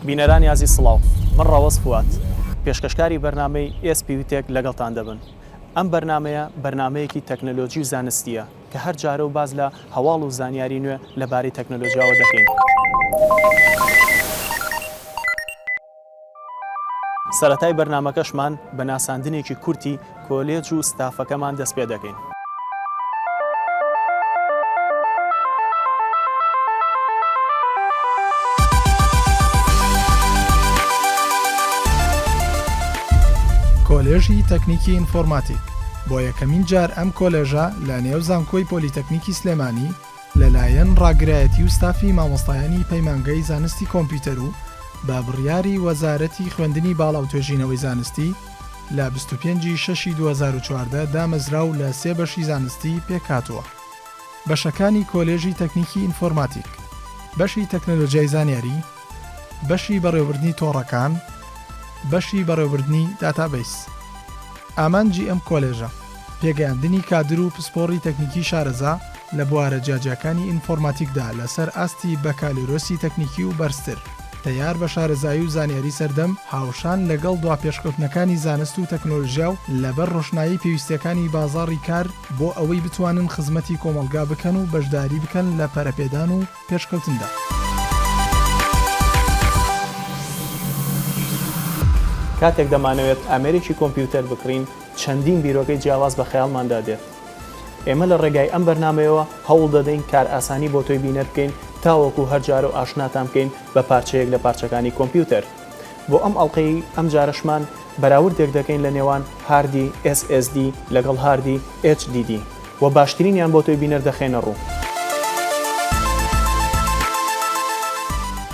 بینەرانی ئازیز سڵاو من ڕەوەز فواد پێشکەشکاری بەرنامەی ئێس پیو تێک لەگەڵتان دەبن ئەم بەرنامەیە بەرنامەیەکی تەکنەلۆجی و زانستیە کە هەر جارە و باس لە هەواڵ و زانیاری نوێ لەبارەی تەکنەلۆجیاوە دەکەین. سەرەتای بەرنامەکەشمان بە ناساندنێکی کورتی کۆلێج و ستافەکەمان دەست پێ دەکەین. کۆلێژی تەکنیکی ئینفۆرماتیک، بۆ یەکەمین جار ئەم کۆلێژە لە نێو زانکۆی پۆلیتەکنیکی سلێمانی، لەلایەن ڕاگرایەتی و ستافی مامۆستایانی پەیمانگەی زانستی کۆمپیوتەر و بە بڕیاری وەزارەتی خوێندنی باڵا و توێژینەوەی زانستی لە بیست و پێنج ی شەش ی دوو هەزار و چواردە دامەزرا و لە سێ بەشی زانستی پێکهاتووە، بەشەکانی کۆلێژی تەکنیکی ئینفۆرماتیک، بەشی تەکنەلۆجیای زانیاری، بەشی بەڕێوەبردنی تۆڕەکان بەشی بەڕێوەبردنی داتابەیس ئامانجی ئەم کۆلێژە پێگەیاندنی کادر و پسپۆڕی تەکنیکی شارەزا لە بوارە جیاجیاکانی ئینفۆرماتیکدا لەسەر ئاستی بەکالۆرۆسی تەکنیکی و بەرزتر تەیار بە شارەزایی و زانیاری سەردەم هاوشان لەگەڵ دوا پێشکەوتنەکانی زانست و تەکنۆلژیا و لەبەر ڕۆشنایی پێویستیەکانی بازاڕی کار بۆ ئەوەی بتوانن خزمەتی کۆمەڵگا بکەن و بەشداری بکەن لە پەرەپێدان و پێشکەوتندا. کاتێک دەمانەوێت ئامێرێکی کۆمپیوتەر بکڕین، چەندین بیرۆکەی جیاواز بە خەیاڵماندا دێت. ئێمە لە ڕێگای ئەم بەرنامەیەوە هەوڵ دەدەین کارئاسانی بۆ تۆی بینەر بکەین تاوەکو هەر جارەو ئاشناتان بکەین بە پارچەیەک لە پارچەکانی کۆمپیوتەر. بۆ ئەم ئەڵقەیەی ئەم جارەشمان بەراوردێک دەکەین لە نێوان هاردی SSD لەگەڵ هاردی HDD و باشترینیان بۆ تۆی بینەر دەخەینە ڕوو.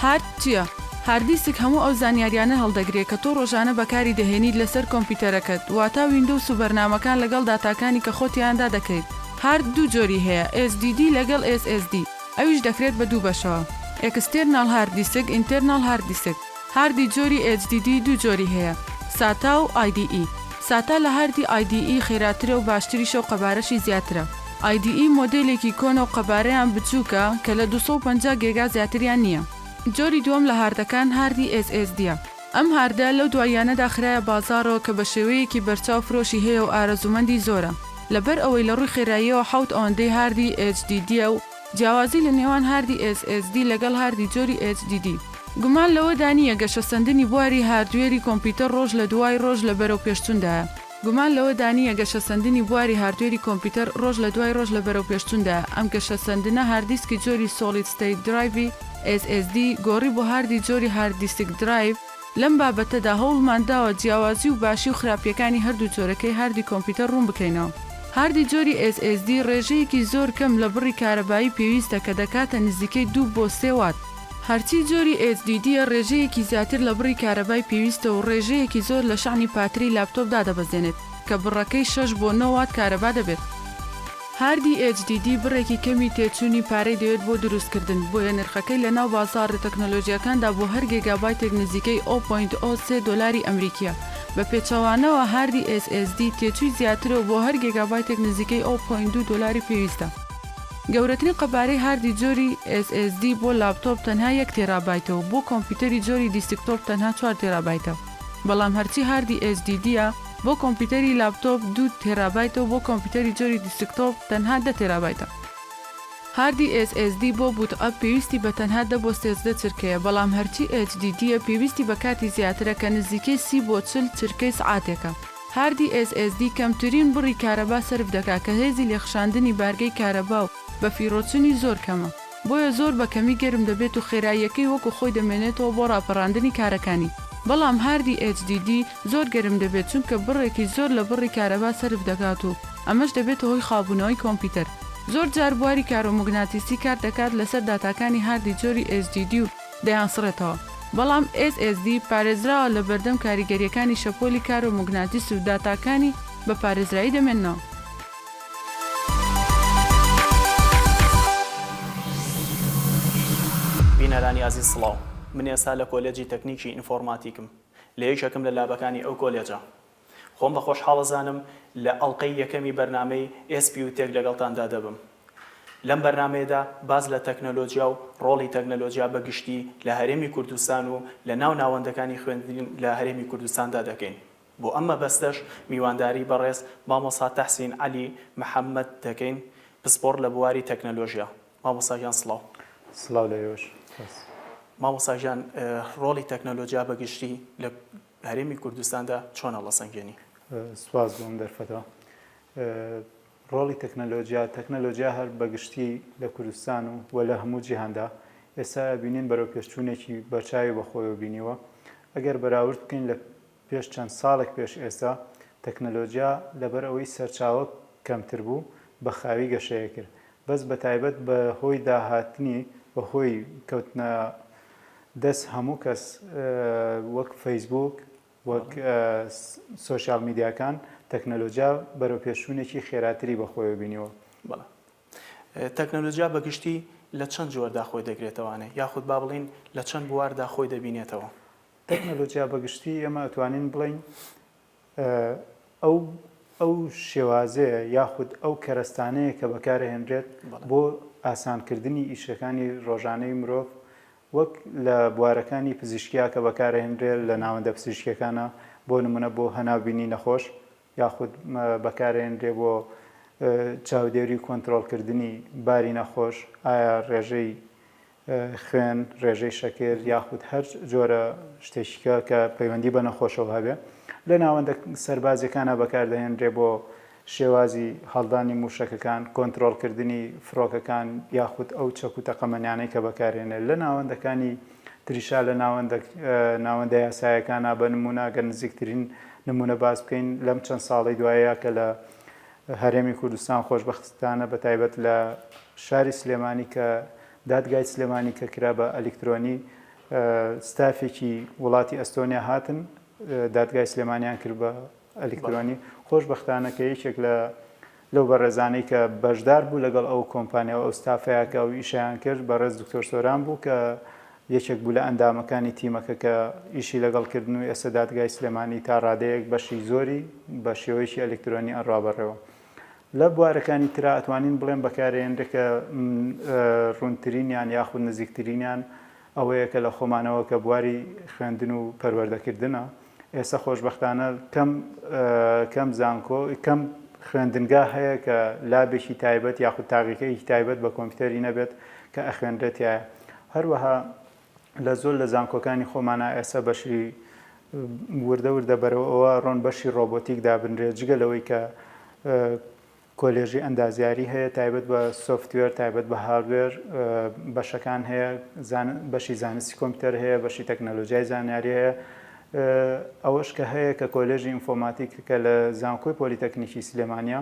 هارد چیە؟ هاردیسک هەموو ئەو زانیاریانە هەڵدەگرێ کە تۆ ڕۆژانە بەکاری دەهێنیت لەسەر کۆمپیوتەرەکەت واتا ویندۆوس و بەرنامەکان لەگەڵ داتاکانی کە خۆ تیایاندا دەکەیت. هارد دوو جۆری هەیە SDD لەگەڵ SSD. ئەویش دەکرێت بە دوو بەشەوە، ئێکستێرناڵ هارد دیسک، ئینتێرناڵ هارد دیسک، هاردی جۆری HDD دوو جۆری هەیە، ساتا و IDE. ساتا لە هاردی IDE خێراترە و باشتریشە و قەبارەشی زیاترە. IDE مۆدێلێکی کۆنە و قەبارەیان بچووکە کە لە دوو سەد و پەنجا گێگا زیاتریان نییە. جۆری دووەم لە هاردەکان هاردی SSD ە. ئەم هاردە لەو دواییانەدا خرایە بازاڕەوە کە بە شێوەیەکی بەرچاو فرۆشی هەیە و ئارەزوومەندی زۆرە. لەبەر ئەوەی لە ڕووی خێراییەوە حەوت ئەوەندەی هاردی HDD ە و جیاوازی لە نێوان هاردی SSD لەگەڵ هاردی جۆری HDD گومان لەوەدا نییە گەشەسەندنی بواری هاردوێری کۆمپیوتەر ڕۆژ لە دوای ڕۆژ لە بەرەوپێشچووندایە. گومان لەوەدا نییە گەشەسەندنی بواری هاردوێری کۆمپیوتەر ڕۆژ لە دوای ڕۆژ لە بەرەوپێشچووندایە، ئەم گەشەسەندنە هارددیسکی جۆری سۆڵید ستەیت درایڤی، SSD، گۆڕی بۆ هاردی جۆری هارد دیسک درایڤ، لەم بابەتەدا هەوڵمان داوە جیاوازی و باشی و خراپییەکانی هەردوو جۆرەکەی هاردی کۆمپیوتەر ڕوون بکەینەوە. هاردی جۆری SSD ڕێژەیەکی زۆر کەم لە بڕی کارەبایی پێویستە کە دەکاتە نزیکەی دوو بۆ سێ وات، هەرچی جۆری ئێچدیدییە ڕێژەیەکی زیاتر لە بڕی کارەبای پێویستە و ڕێژەیەکی زۆر لە شەحنی پاتری لاپتۆپ دادەبەزێنێت کە بڕەکەی شەش بۆ نۆ وات کارەبا دەبێت. هاردی ئێچ دی دی بڕێکی کەمی تێچوونی پارەی دەوێت بۆ دروستکردن، بۆیە نرخەکەی لە ناو بازاڕە تەکنۆلۆژییەکاندا بۆ هەر گێگابایتێک نزیکەی ئۆ پۆینت ئۆ سێ دۆلاری ئەمریکییە. بە پێچەوانەوە هاردی ئێس ئێس دی تێچووی زیاترە و بۆ هەر گێگابایتێک نزیکەی ئۆ پۆینت دوو دۆلاری پێویستە. گەورەترین قەبارەی هاردی جۆری SSD بۆ لاپتۆپ تەنها یەک تێرابایتە و بۆ کۆمپیوتەری جۆری دیسکتۆپ تەنها چوار تێرابایتە بەڵام هەرچی هاردی HDD ە بۆ کۆمپیوتەری لاپتۆپ دوو تێرابایتە و بۆ کۆمپیوتەری جۆری دیسکتۆپ تەنها دە تێرابایتە. هاردی SSD بۆ بووت ئەپ پێویستی بە تەنها دە بۆ سێزدە چرکەیە بەڵام هەرچی HDD ە پێویستی بە کاتی زیاترە کە نزیکەی سی بۆ چل چرکەی سعاتێکە. هاردی ئێس ئێس دی کەمترین بڕی کارەبا سەرف دەکات کە هێزی لێخشاندنی بارگەی کارەبا و بەفیڕۆچنی زۆر کەمە بۆیە زۆر بە کەمی گەرم دەبێت و خێراییەکەی وەکو خۆی دەمێنێتەوە بۆ ڕاپەڕاندنی کارەکانی بەڵام هاردی ئێچ دی دی زۆر گەرم دەبێت چونکە بڕێکی زۆر لە بڕی کارەبا سەرف دەکات و ئەمەش دەبێتە هۆی خاوبوونەوەی کۆمپیوتەر زۆر جار بواری کارۆموگناتیسی کار دەکات لەسەر داتاکانی هاردی جۆری ئێچ دی دی و دەیانسڕێتەوە، بەڵام SSD پارێزراوە لە بەردەم کاریگەرییەکانی شەپۆلی کارۆ موگناتیسی و داتاکانی بە پارێزرایی دەمێننەوە. بینەرانی ئازیز سڵاو، من ئێستا لە کۆلێجی تەکنیکی ئینفۆڕماتیکم، لە یەکێکم لە لابەکانی ئەو کۆلێجە. خۆم بە خۆشحاڵ ئەزانم لە ئەڵقەی یەکەمی بەرنامەی ئێس بیوتێک لەگەڵتاندا دەبم. لەم بەرنامەیەدا باس لە تەکنەلۆجیا و ڕۆڵی تەکنەلۆجیا بە گشتی لە هەرێمی کوردستان و لە ناو ناوەندەکانی خوێندن لە هەرێمی کوردستاندا دەکەین. بۆ ئەم مەبەستەش میوانداری بەڕێز مامۆستا تەحسین عەلی محەمەد دەکەین پسپۆڕ لە بواری تەکنەلۆژیا. مامۆستا گیان سڵاو. سڵاو لە ئێوەش. مامۆستا گیان ڕۆڵی تەکنەلۆجیا بە گشتی لە لە هەرێمی کوردستاندا چۆن هەڵەسەنگێنی؟ سوپاس بۆ ئەم دەرفەتە. ڕۆڵی تەکنەلۆجیا، تەکنەلۆجیا هەر بە گشتی لە کوردستان و و لە هەموو جیهاندا ئێستا ئەبینین بەرەوپێشچوونێکی بەرچاوی بە خۆیەوە بینیوە. ئەگەر بەراورد بکەین لە پێش چەند ساڵێک پێش ئێستا، تەکنەلۆجیا لەبەر ئەوەی سەرچاوە کەمتر بوو، بە خاوی گەشەیە کرد. بەس بەتایبەت بە هۆی داهاتنی بە هۆی کەوتنە دەس هەموو کەس وەک فەیسبووک وەک سۆشیال میدیاکان تەکنەلۆجیا بەرەو پێشوونێکی خێراتری بە خۆیەوە بینیوە. بەڵێ تەکنەلۆجیا بە گشتی لە چەند جۆردا خۆی دەگرێتەوانێ یاخود با بڵێین لە چەند بواردا خۆی دەبینێتەوە؟ تەکنەلۆجیا بە گشتی ئێمە ئەتوانین بڵێین ئەو ئەو شێوازەیە یاخود ئەو کەرەستانەیە کە بەکارەهێنرێت بۆ ئاسانکردنی ئیشەکانی ڕۆژانەی مرۆڤ وەک لە بوارەکانی پزیشکیا کە بەکارەهێنرێ لە ناوەندە پزیشکەکانە بۆ نمونە بۆ هەناوبینی نەخۆش یاخود بەکارێنرێ بۆ چاودێری کۆنتترۆلکردنی باری نەخۆش ئایا ڕێژەی خوێن، رێژەی شەکر یاخود هەر جۆرە شتێکیکە کە پەیوەندی بە نەخۆشەوە هەبێ لە ناوەندە سەربازیەکانا بەکاردەهێنرێ بۆ شێوازی هەڵدانی موشەکەکان، کۆنترۆڵکردنی فرۆکەکان یاخود ئەو چەک و تەقەمەنیانەی کە بەکارهێنێ لە ناوەندەکانی تریشا لە ناوەندە ناوەندە یاسایەکانا بە نمونە گەر نزیکترین نمونە باس بکەین لەم چەند ساڵی دوایە کە لە هەرێمی کوردستان خۆشبەختانە بە تایبەت لە شاری سلێمانی کە دادگای سلێمانی کە کرا بە ئەلیکترۆنی ستافێکی وڵاتی ئەستۆنیا هاتن دادگای سلێمانیان کرد بە ئەلیکترۆنی خۆشببختانە کە یەکێک لە لەو بەڕێزانەی کە بەشدار بوو لەگەڵ ئەو کۆمپانیا و ئەو ستافەیەکە و ئیشیان کرد بەڕێز دکتۆر سۆران بوو کە یەکێک بوو لە ئەندامەکانی تیمەکە کە ئیشی لەگەڵ کردن و ئێستا دادگای سلێمانی تا ڕادەیەک بەشی زۆری بە شێوەیەکی ئەلکترۆنی ئەڕا بەڕێوە. لە بوارەکانی ترا ئەتوانین بڵێن بەکارێنرێ کە ڕوونترینیان یاخود نزیکترینیان ئەوەیە کە لە خۆمانەوە کە بواری خوێندن و پەروەردەکردنە. ئێستا خۆشبەختانە کەم کەم زانکۆ کەم خوێندنگا هەیە کە لابێکی تایبەت یاخود تاقیکەیەکی تایبەت بە کۆمپیوتەری نەبێت کە ئەخوێنرێتایە هەروەها لە زۆر لە زانکۆکانی خۆمانە ئێستا بەشی وردە وردە بەرەوە ئەوە ڕۆن بەشی ڕۆبۆتیک دابنرێت جگە لەوەی کە کۆلێژی ئەندازیاری هەیە تایبەت بە سۆفتوێر تایبەت بە هاردوێر بەشەکان هەیە بەشی زانستی کۆمپیوتەر هەیە بەشی تەکنەلۆجیای زانیاری هەیە ئەوەش کە هەیە کە کۆلێژی ئینفۆماتیک کە لە زانکۆی پۆلیتەکنیکی سلێمانیە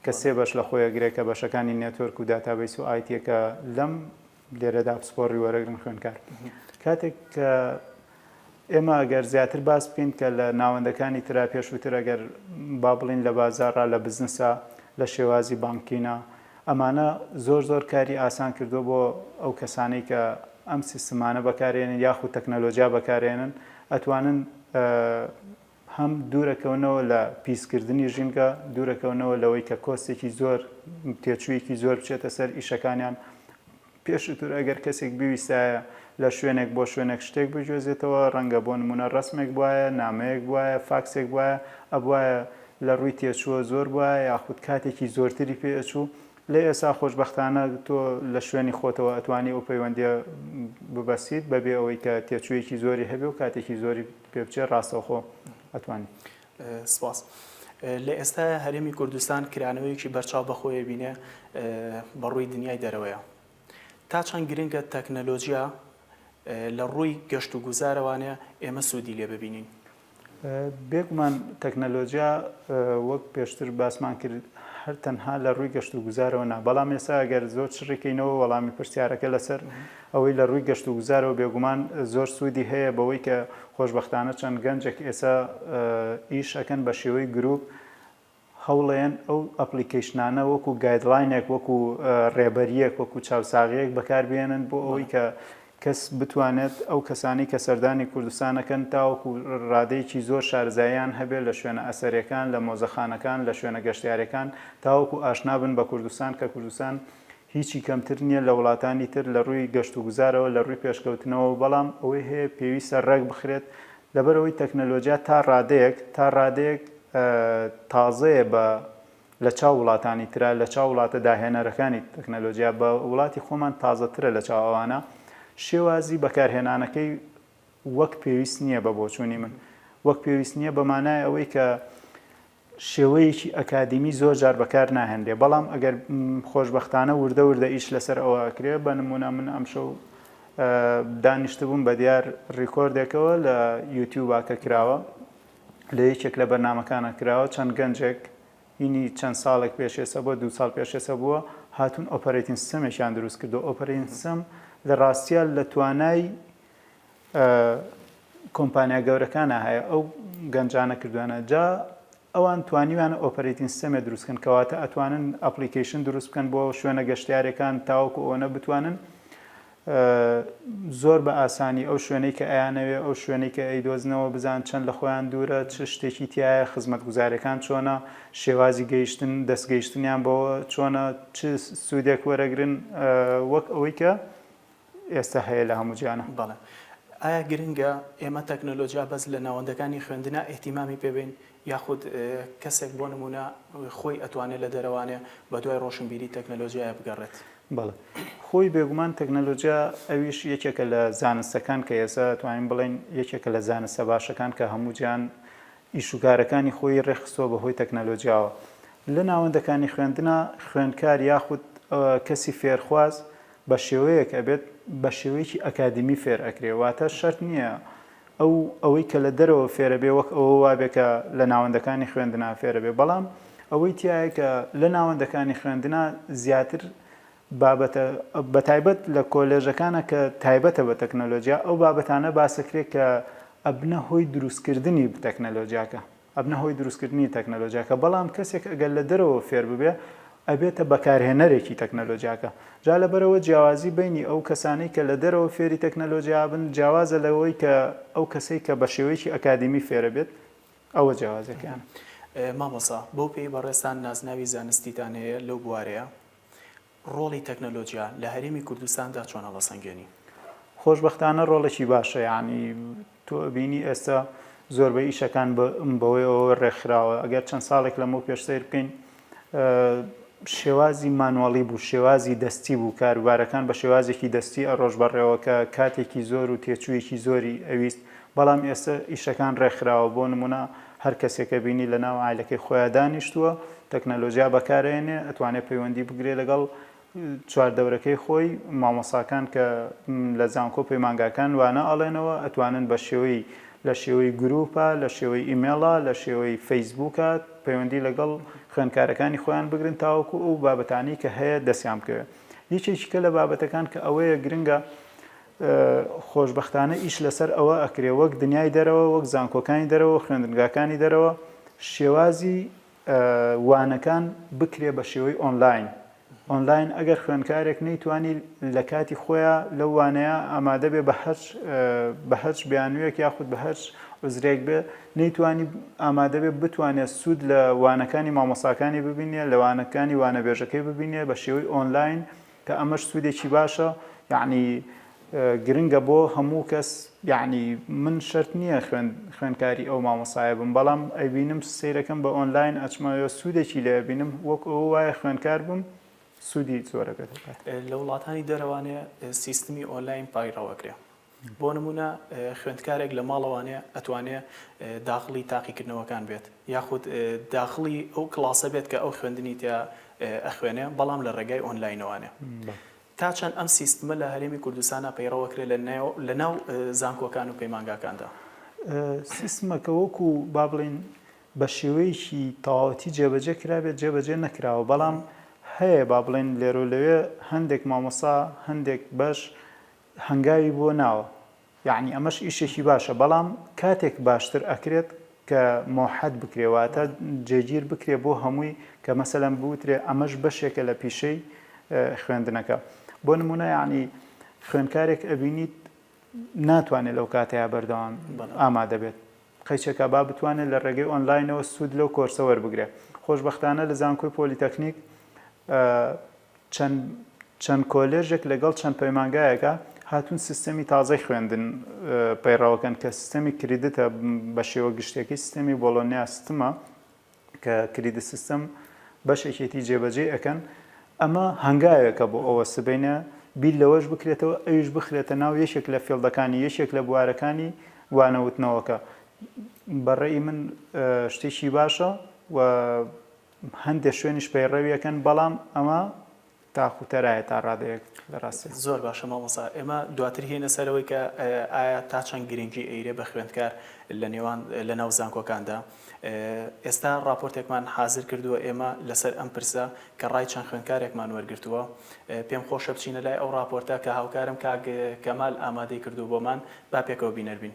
کە سێ بەش لە خۆیەگرێ کە بەشەکانی نێتۆرک و داتابەیس و ئایتیە کە لەم لێرەدا پسپۆڕی وەرەگرن خوێنکار کاتێک کە ئێمە ئەگەر زیاتر باس بکەین کە لە ناوەندەکانی تررا پێشووتر ئەگەر با بڵین لە بازارڕا لە بزنسە لە شێوازی بانکینە ئەمانە زۆر زۆر کاری ئاسان کردو بۆ ئەو کەسانەی کە ئەم سیستمانە بەکارێنن یاخود تەکنەلۆجیا بەکارێنن ئەتوانن هەم دوورەکەونەوە لە پیسکردنی ژینگە، دوورەکەونەوە لەوەی کە کۆستێکی زۆر، تێچوویەکی زۆر بچێتە سەر ئیشەکانیان. پێشووتر ئەگەر کەسێک بویستایە لە شوێنێک بۆ شوێنێک شتێک بگوێزێتەوە، ڕەنگە بۆ نموونە ڕەسمێک بوایە، نامەیەک بوایە، فاکسێک بوایە، ئەبوایە لە ڕووی تێچووە زۆر بوایە یاخود کاتێکی زۆرتری پێ ئەچوو، لێ ئێستا خۆشبەختانە تۆ لە شوێنی خۆتەوە ئەتوانی ئەو پەیوەندییە ببەستیت بەبێ ئەوەی کە تێچوویەکی زۆری هەبێ و کاتێکی زۆری پێ بچێ ڕاستەوخۆ ئەتوانی. سپاس. لە ئێستایا هەرێمی کوردستان کرانەوەیەکی بەرچاو بە خۆی ئەبینێ بە ڕووی دنیای دەرەوەیە. تا چەند گرنگە تەکنەلۆجیا لە ڕووی گەشت و گوزارەوانێ ئێمە سوودی لێ ببینین؟ بێگومان تەکنەلۆجیا وەک پێشتر باسمان کرد هەر تەنها لە ڕووی گەشت و گوزارەوە نا، بەڵام ئێستا گەر زۆر چڕیکەینەوە وەڵامی پرسیارەکە لەسەر ئەوەی لە ڕووی گەشت و گوزارەوە بێگومان زۆر سوودی هەیە بەوەی کە خۆشبەختانە چەند گەنجێک ئێستا ئیش ئەکەن بە شێوەی گرووپ هەوڵێن ئەو ئەپلیکەیشنانە وەکو گایدلاینێک وەکو ڕێبەریەک وەکو چاوساغەیەک بەکاربیێنن بۆ ئەوەی کە کەس بتوانێت ئەو کەسانی کە سەردانی کوردستانەکەن تاوەکو ڕادەیەکی زۆر شارزایان هەبێت لە شوێنە ئەسەرەکان لە مۆزەخانەکان لە شوێنە گەشتارەکان تاوەکو ئاشنابن بە کوردستان کە کوردستان هیچی کەمتر نییە لە وڵاتانی تر لە ڕووی گەشتوگوزارەوە، لە ڕووی پێشکەوتنەوە، بەڵام ئەوەی هەیە پێویستە ڕێکبخرێت، لەبەرئەوەی تەکنەلۆجیا تا ڕادەیەک تا ڕادەیەک تازەیە بە لە چاو وڵاتانی ترا، لە چاو وڵاتە داهێنەرەکانی تەکنەلۆجیا، بە وڵاتی خۆمان تازەترە لە چاو ئەوانە، شێوازی بەکارهێنانەکەی وەک پێویست نییە بە بۆچوونی من، وەک پێویست نییە بە مانای ئەوەی کە شێوەیەکی ئەکادیمی زۆر جار بەکار ناهێنرێ بەڵام ئەگەر خۆشبەختانە وردە وردە ئیش لەسەر ئەوە ئەکرێ بە نموونە من ئەمشەو دانیشتبووم بە دیار ڕیکۆردێکەوە لە یوتیوبا کە کراوە لە یەکێک لە بەرنمەکانە کراوە چەند گەنجێک هینی چەند ساڵێک پێشێسە بۆ دو ساڵ پێشێسە بووە هاتون ئۆپەرەتین سمێکیان دروست کردو ئۆپەرین سم لە ڕاستیان لە توانای کۆمپانیا گەورەکانە هەیە ئەو گەنجانە کردوانە جا ئەوان توانیویانە ئۆپەرەیتین سیستەمێ دروستکەن کەواتە ئەتوانن ئەپلیکیشن دروست بکەن بۆ شوێنە گەشتارەکان تاوەکو ئەوەنە بتوانن زۆر بە ئاسانی ئەو شوێنەی کە ئەیانەوێ ئەو شوێنەی کە ئەی دۆزنەوە بزان چەند لە خۆیان دوورە چ شتێکی تایە خزمەت گوزارەکان چۆنە شێوازی گەیشتن دەستگەیشتنیان بەوە چۆنە چ سوودێک وەرەگرن وەک ئەوەی کە ئێستا هەیە لە هەموو جیانا. بەڵێ ئایا گرنگە ئێمە تەکنەلۆجیا بەس لە ناوەندەکانی خوێندنا ئیهتیمامی پێ بەین یاخود کەسێک بۆ نموونە خۆی ئەتوانێ لە دەرەوانێ بە دوای ڕۆشنبیری تەکنەلۆجیایە بگەڕێت؟ بەڵێ خۆی بێگومان تەکنەلۆجیا ئەویش یەکێکە لە زانستەکان کە ئێستا ئەتوانین بڵێین یەکێکە لە زانستە باشەکان کە هەموو جیان ئیش و کارەکانی خۆی ڕێکخستووە بە هۆی تەکنەلۆجیاوە لە ناوەندەکانی خوێندنا خوێندکار یاخود کەسی فێرخواز بە شێوەیەک ئەبێت بە شێوەیەکی ئەکادیمی فێر ئەکرێ واتە شەرت نییە ئەو ئەوەی کە لە دەرەوە فێرە بێ وەک ئەوە وابێ کە لە ناوەندەکانی خوێندنا فێرە بێ بەڵام ئەوەی تایە کە لە ناوەندەکانی خوێندنا زیاتر بابەتە بە تایبەت لە کۆلێژەکانە کە تایبەتە بە تەکنەلۆجیا ئەو بابەتانە باسەکرێ کە ئەبنە هۆی دروستکردنی تەکنەلۆجیاکە ئەبنە هۆی دروستکردنی تەکنەلۆجیاکە بەڵام کەسێک ئەگەر لە دەرەوە فێر ببێ ئەبێتە بەکارهێنەرێکی تەکنەلۆجیاکە جا لەبەرئەوە جیاوازی بەینی ئەو کەسانەی کە لە دەرەوە فێری تەکنەلۆجیا بن جیاوازە لەوەی کە ئەو کەسەی کە بە شێوەیەکی ئەکادیمی فێرە بێت ئەوە جیاوازیەکەیانە. مامۆسا بەو پێی بەڕێزتان نازناوی زانستیتان هەیە لەو بوارەیا؟ ڕۆڵی تەکنەلۆجیا لە هەرێمی کوردستاندا چۆن هەڵەسەنگێنی؟ خۆشبەختانە ڕۆڵێکی باشە یانی تۆ ئەبینی ئێستا زۆربەی ئیشەکان بەوەی ئەوە ڕێکخراوە ئەگەر چەند ساڵێک لەمەو پێش سیر بکەین شێوازی مانواڵی بوو شێوازی دەستی بوو کاروبارەکان بە شێوازێکی دەستی ئەڕۆژ بەڕێوەکە کاتێکی زۆر و تێچوویەکی زۆری ئەویست بەڵام ئێستا ئیشەکان ڕێکخراوە بۆ نمونە هەر کەسێکە بینی لە ناو عایلەکەی خۆیا دانیشتووە تەکنەلۆجیا بەکار ئەیەنێ ئەتوانێ پەیوەندی بگرێ لەگەڵ چوار دەورەکەی خۆی مامۆساکان کە لە زانکۆ پەیمانگاکان وانە ئەڵێنەوە ئەتوانن بە شێوەی لە شێوەی گروپە لە شێوەی ئیمێڵە لە شێوەی فەیسبووکە پەیوەندی لەگەڵ خوێندکارەکانی خۆیان بگرن تاوەکو ئەو بابەتانی کە هەیە دەستیان بکەوێت یەکێکیکە لە بابەتەکان کە ئەوەیە گرنگە خۆشبەختانە ئیش لەسەر ئەوە ئەکرێ وەک دنیای دەرەوە وەک زانکۆکانی دەرەوە و خوێندنگاکانی دەرەوە شێوازی وانەکان بکرێ بە شێوەی ئۆنلاین ئۆنلاین ئەگەر خوێندکارێک نەیتوانی لە کاتی خۆیان لەو وانەیە ئامادە بێ بە هەرچ بە هەرچ بیانویەک یاخود بە هەرچ عزرێک بێ نەیتوانی ئامادە بێ بتوانێت سوود لە وانەکانی مامۆساکانی ببینێ لە وانەکانی وانەبێژەکەی ببینێ بە شێوەی ئۆنلاین کە ئەمەش سودێکی باشە یەعنی گرنگە بۆ هەموو کەس یەعنی من شەرت نییە خوێن خوێنکاری ئەو مامۆسایە بم بەڵام ئەیبینم سیرەکەم بە ئۆنلاین ئەچمەوە سوودێکی لێ بینم وەک ئەو وایە خوێنکار بم سوودی زۆرەکەت لە وڵاتانی دەرەوانێ سیستمی ئۆنلاین پایڕەوەکرێ بۆ نموونە خوێندکارێک لە ماڵەوانێ ئەتوانێ داخڵی تاقیکردنەوەکان بێت یاخود داخڵی ئەو کڵاسە بێت کە ئەو خوێندنی تیا ئەخوێنێ بەڵام لە ڕێگای ئۆنلاینەوانێ تا چەند ئەم سیستمە لە هەرێمی کوردستانا پەیڕەوە کرێ لە ناو زانکۆکان و پەیمانگاکاندا؟ سیستمەکە وەکو با بڵێین بە شێوەیەکی تەواوەتی جێبەجێ کرابێت جێبەجێ نەکراوە بەڵام هەیە با بڵێین لێرۆ لەوێ هەندێک مامۆسا هەندێک بەش هەنگاوی بۆ ناوە یەعنی ئەمەش ئیشێکی باشە بەڵام کاتێک باشتر ئەکرێت کە مۆحەد بکرێ واتە جێگیر بکرێ بۆ هەمووی کە مەسەلەن بوترێ ئەمەش بەشێکە لە پیشەی خوێندنەکە بۆ نمونە یەعنی خوێنکارێک ئەبینیت ناتوانێت لەو کاتەیە بەردەوام ئامادەبێت قەیچەکە با بتوانێت لە ڕێگەی ئۆنلاینەوە سوود لەو کۆرسە وەربگرێت. خۆشبەختانە لە زانکۆی پۆلیتەکنیک چەند چەند کۆلێژێک لەگەڵ چەند پەیمانگایەکە هاتوون سیستەمی تازەی خوێندن پەیڕەوەکەن کە سیستەمی کریدتە بە شێوە گشتەکەی سیستەمی بۆڵۆنیا ستمە کە کریدت سیستەم بەشێکێتی جێبەجێی ئەکەن ئەمە هەنگاوێکە بۆ ئەوە سبەینێ بیر لەوەش بکرێتەوە ئەویش بخرێتە ناو یەکێک لە فێڵدەکانی یەکێک لە بوارەکانی وانەوتنەوەکە بەڕێی من شتێکی باشە و هەندێک شوێنیش پەیڕەویەکەن بەڵام ئەمە تاخ و تەرایە تا ڕادەیەک لە ڕاستیا. زۆر باشە مامۆستا ئێمە دواتر هێنە سەرەوەی کە ئایا تا چەند گرنگی ئەیرێ بە خوێندکار لە نێوان لە ناو زانکۆکاندا ئێستا ڕاپۆرتێکمان حازر کردووە ئێمە لەسەر ئەم پرسە کە ڕای چەند خوێندکارێکمان وەرگرتووە پێم خۆشە بچینە لای ئەو ڕاپۆرتە کە هاوکارم کاک کەمال ئامادەی کردووە بۆمان با پێکەوە بینەر بین.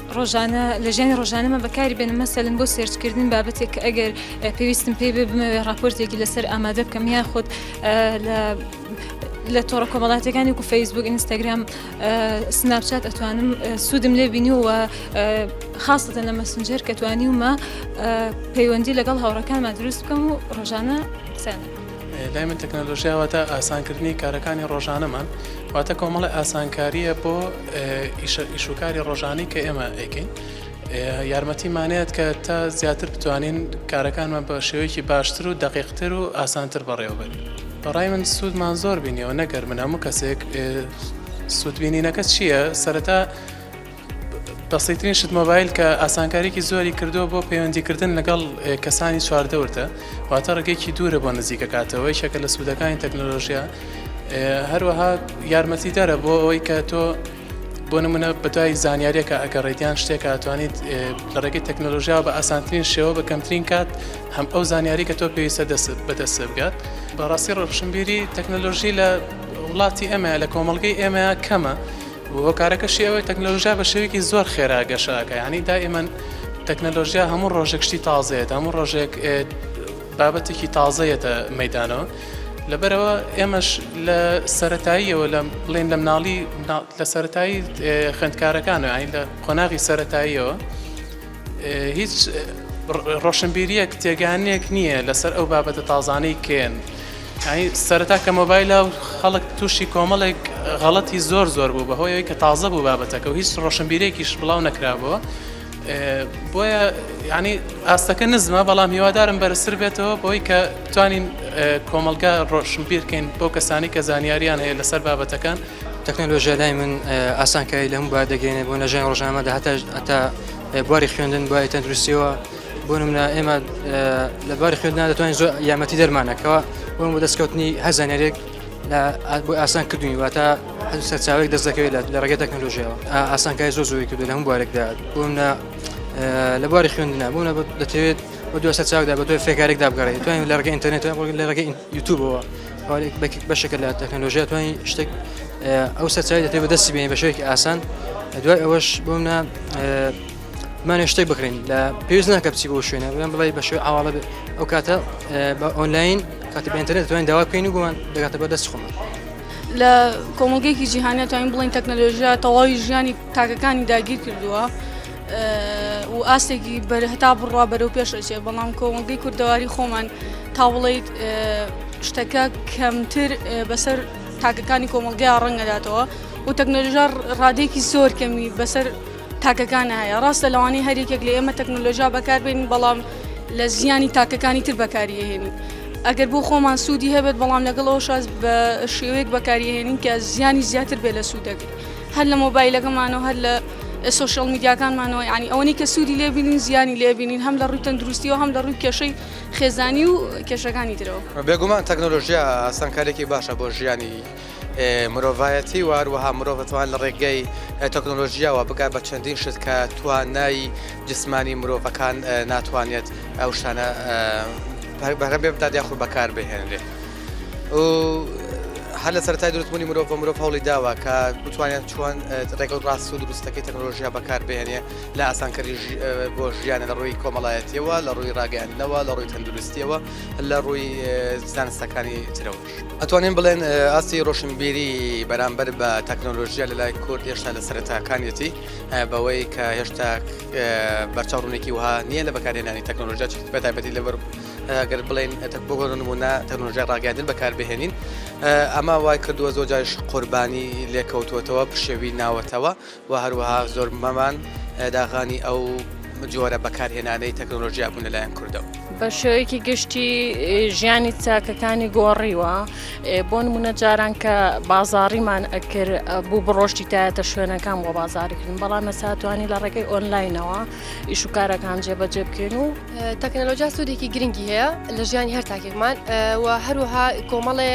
ڕۆژانە لە ژیانی ڕۆژانەمە بەکاری بێنم مەسەلم بۆ سێرچکردن بابەتێک کە ئەگەر پێویستم پێی بێ بمەوێ راپۆرتێکی لەسەر ئامادە بکەم یا خۆت لە تۆڕە کۆمەڵاتەکانی و فەیسبوک ئینستاگرام سناپچات ئەتوانم سوودم لێ بینیوە خاستە لە مەسنجەر کە توانیومە پەیوەندی لەگەڵ هاوڕەکانمان دروست بکەم و ڕۆژانە قسانەکەم. لای من تەکنەلۆژیا واتە ئاسانکردنی کارەکانی ڕۆژانەمان واتە کۆمەڵی ئاسانکاریە بۆ ئیشوکاری ڕۆژانی کە ئێمە ئەیکەین یارمەتیمانەیەت کە تا زیاتر بتوانین کارەکانمان بە شێوەیەکی باشتر و دقیقتر و ئاسانتر بەڕێوەبەرین بەڕای من سوودمان زۆر بینیەوە نەگەر من هەموو کەسێک سوودبینینەکە چییە سەرەتا بەسیترین شت مۆبایل کە ئاسانکاریکی زۆری کردووە بۆ پەیوەندیکردن لەگەڵ کەسانی چواردەورتە واتە ڕێگەیەکی دوورە بۆ نزیکەکاتەوە یەکێکە لە سوودەکانی تەکنۆلۆژیا هەروەها یارمەتی دەرە بۆ ئەوەی کە تۆ بۆ نمونە بەدوای زانیاریەکە ئەگە ڕێدیان شتێکە توانیت لە ڕێگەی تەکنۆلۆژیا بە ئاسانترین شێوە بە کەمترین کات هەم ئەو زانیاری کە تۆ پێویستە دەست بەدەست بگات بەڕاستی ڕۆشنبیری تەکنۆلۆژی لە وڵاتی ئەمە لە کۆمەلگەی ئێمە کەمە هۆکارەکەشی ئەوەیە تەکنەلۆژیا بە شێوەیەکی زۆر خێرا گەشە ئەکا یانی دائیمەن تەکنەلۆژیا هەموو ڕۆژێک شتی تازەیەت هەموو ڕۆژێک بابەتێکی تازەیەتە مەدانەوە لەبەرەوە ئێمەش لە سەتاییەوە لە بڵێن لە مناڵی لە سەتایی خوێندکارەکانە ئاین لە قۆناغی سەتاییەوە هیچ ڕۆشنبیریەک تێگانێک نییە لەسەر ئەو بابەتە تازانەی کێن سەرەتا کە مۆبایلە و خەڵک تووشی کۆمەڵێک غەڵەتی زۆر زۆر بوو بەهۆیەوەی کە تازە بوو بابەتەکە و هیچ ڕۆشنبیرێکیش بڵاو نەکرابووە بۆیە ینی ئاستەکە نزمە بەڵام هیوادارم بەرسر بێتەوە بۆی کە توانین کۆمەلگا ڕۆشنبیرکەین بۆ کەسانی کە زانیاریان هەیە لەسەر بابەتەکان تەکنەلۆژیا لای من ئاسانکاری لەم با دەگەێنێ بۆ نەژای ڕژامە داهتا ئەتا بواری خوێندن بای تەندروستیەوە بۆ منە ئێمە لە باری خوێندنا دەتوانین زۆر یامەتی دەرمانەکەەوە بۆ بۆ دەستکەوتنی هەزانەرێک لە بۆ ئاسان کردوین واتە هەز سەرچاوێک دەست دەکەوێت لە ڕێگە تەکنۆلژیەوە ئاسانکای زۆ زۆری کردو لە هەم بوارێکدا بۆ منە لە بواری خوێندنا بۆ دەتەوێت بە دو سەرچاودا بە دوای فێکارێکدا بگەڕێت توانین لە ڕگە ئینتەرنێت لە ڕگە یوتوبەوە بەشێکە لە تەکنەلۆژیا توانین شتێک ئەو سەرچاوی دەتێ بەدەستی بێنی بە شێوێکی ئاسان دوای ئەوەش بۆمە مانێ شتێک بکرێن لە پێویست ناکە بچی بۆ شوێنە بڵێن بڵێ بە شێوی ئاواڵە بێت ئەو کاتە بە ئۆنلاین کاتی بەینتەرێت توانین داوا بکەین و بۆمان دەگاتە بەدەست خۆمان. لە کۆمەڵگەیەکی جیهانە توانین بڵین تەکنەلۆژیا تەواوی ژیانی تاکەکانی داگیر کردووە و ئاستێکی بەر هەتا بڕوا بەرەو پێش ئەچێت بەڵام کۆمەڵگەی کوردەواری خۆمان تا بڵیت شتەکە کەمتر بەسەر تاکەکانی کۆمەلگەیان ڕەنگەداتەوە و تەکنەلژار ڕادێکی زۆر کەمی بەسەر تاکەکانە هەیە ڕاستە لەوانی هەریەک لە ئێمە تەکنەلۆژیا بەکاربین بەڵام لە زیانی تاکەکانی تر بەکاریهێنی ئەگەر بۆ خۆمان سوودی هەبێت بەڵام لەگەڵەوە شاز بە شێوەیەک بەکاریهێنین کە زیانی زیاتر بێ لە سوودەکە هەر لە مۆبایلەکەمانەوە هەر لە سۆشیال میدیاکانمانەوە یعنی ئەوەنەی کە سوودی لێ بینین زیانی لێ بینین هەم لە ڕووی تەندروستیەوە هەم لە ڕووی کێشەی خێزانی و کێشەکانی ترەوە. بێگومان تەکنۆلۆژیا ئاسانکاریەکی باشە بۆ ژیانی مرۆڤایەتی و هەروەها مرۆڤ دەتوان لە ڕێگەی تەکنۆلۆژیاوە بگات بە چەندین شت کە توانای جسمانی مرۆڤەکان ناتوانێت ئەو شتانە بەرەبێ بدات یاخود بەکار بهێنرێ. و هەر لە سەرەتای دروستبوونی مرۆڤ مرۆڤ هەوڵی داوە کە بتوانێت چۆن ڕێگەڵ ڕاست و دروستەکەی تەکنۆلۆژیا بەکاربێنێ لە ئاسانکەری بۆ ژیانە لە ڕووی کۆمەڵایەتیەوە لە ڕووی ڕاگەیاندنەوە لە ڕووی تەندروستیەوە لە ڕووی زانستەکانی ترەوە ئەتوانین بڵێن ئاستی ڕۆشنبیری بەرامبەر بە تەکنۆلۆژیا لە لای کورد هێشتا لە سەرەتاکانیەتی بەوەی کە هێشتا بەرچاو ڕوونێکی وها نییە لە بەکارێنانی تەکنۆلۆژیا چ بەتابەتی لەبەر گەر بڵێن بۆ نمونە تەنۆژای ڕاگەاندن بەکاربهێنین ئەمە وای کردووە زۆر جاش قوربانی لێکەوتوتەوە پشێوی ناوەتەوە و هەروەها زۆر مەمان داغانی ئەو جۆرە بەکارهێنانەی تەکنۆلۆژیا بوون لەلایەن کوردەوە. بە شێوەیەکی گشتی ژیانی چاکەکانی گۆڕیوە بۆ نمونە جاران کە بازاڕیمان ئەکرد بوو بڕۆشتی تایەتە شوێنەکان بۆ بازاریکردن بەڵام مەساتوانی لە ڕێگەی ئۆنلاینەوە ئیش و کارەکان جێبەجێ بکەین و تەکنەلۆجیا سوودێکی گرنگی هەیە لە ژیانی هەر تاکێکمان و هەروها کۆمەڵێ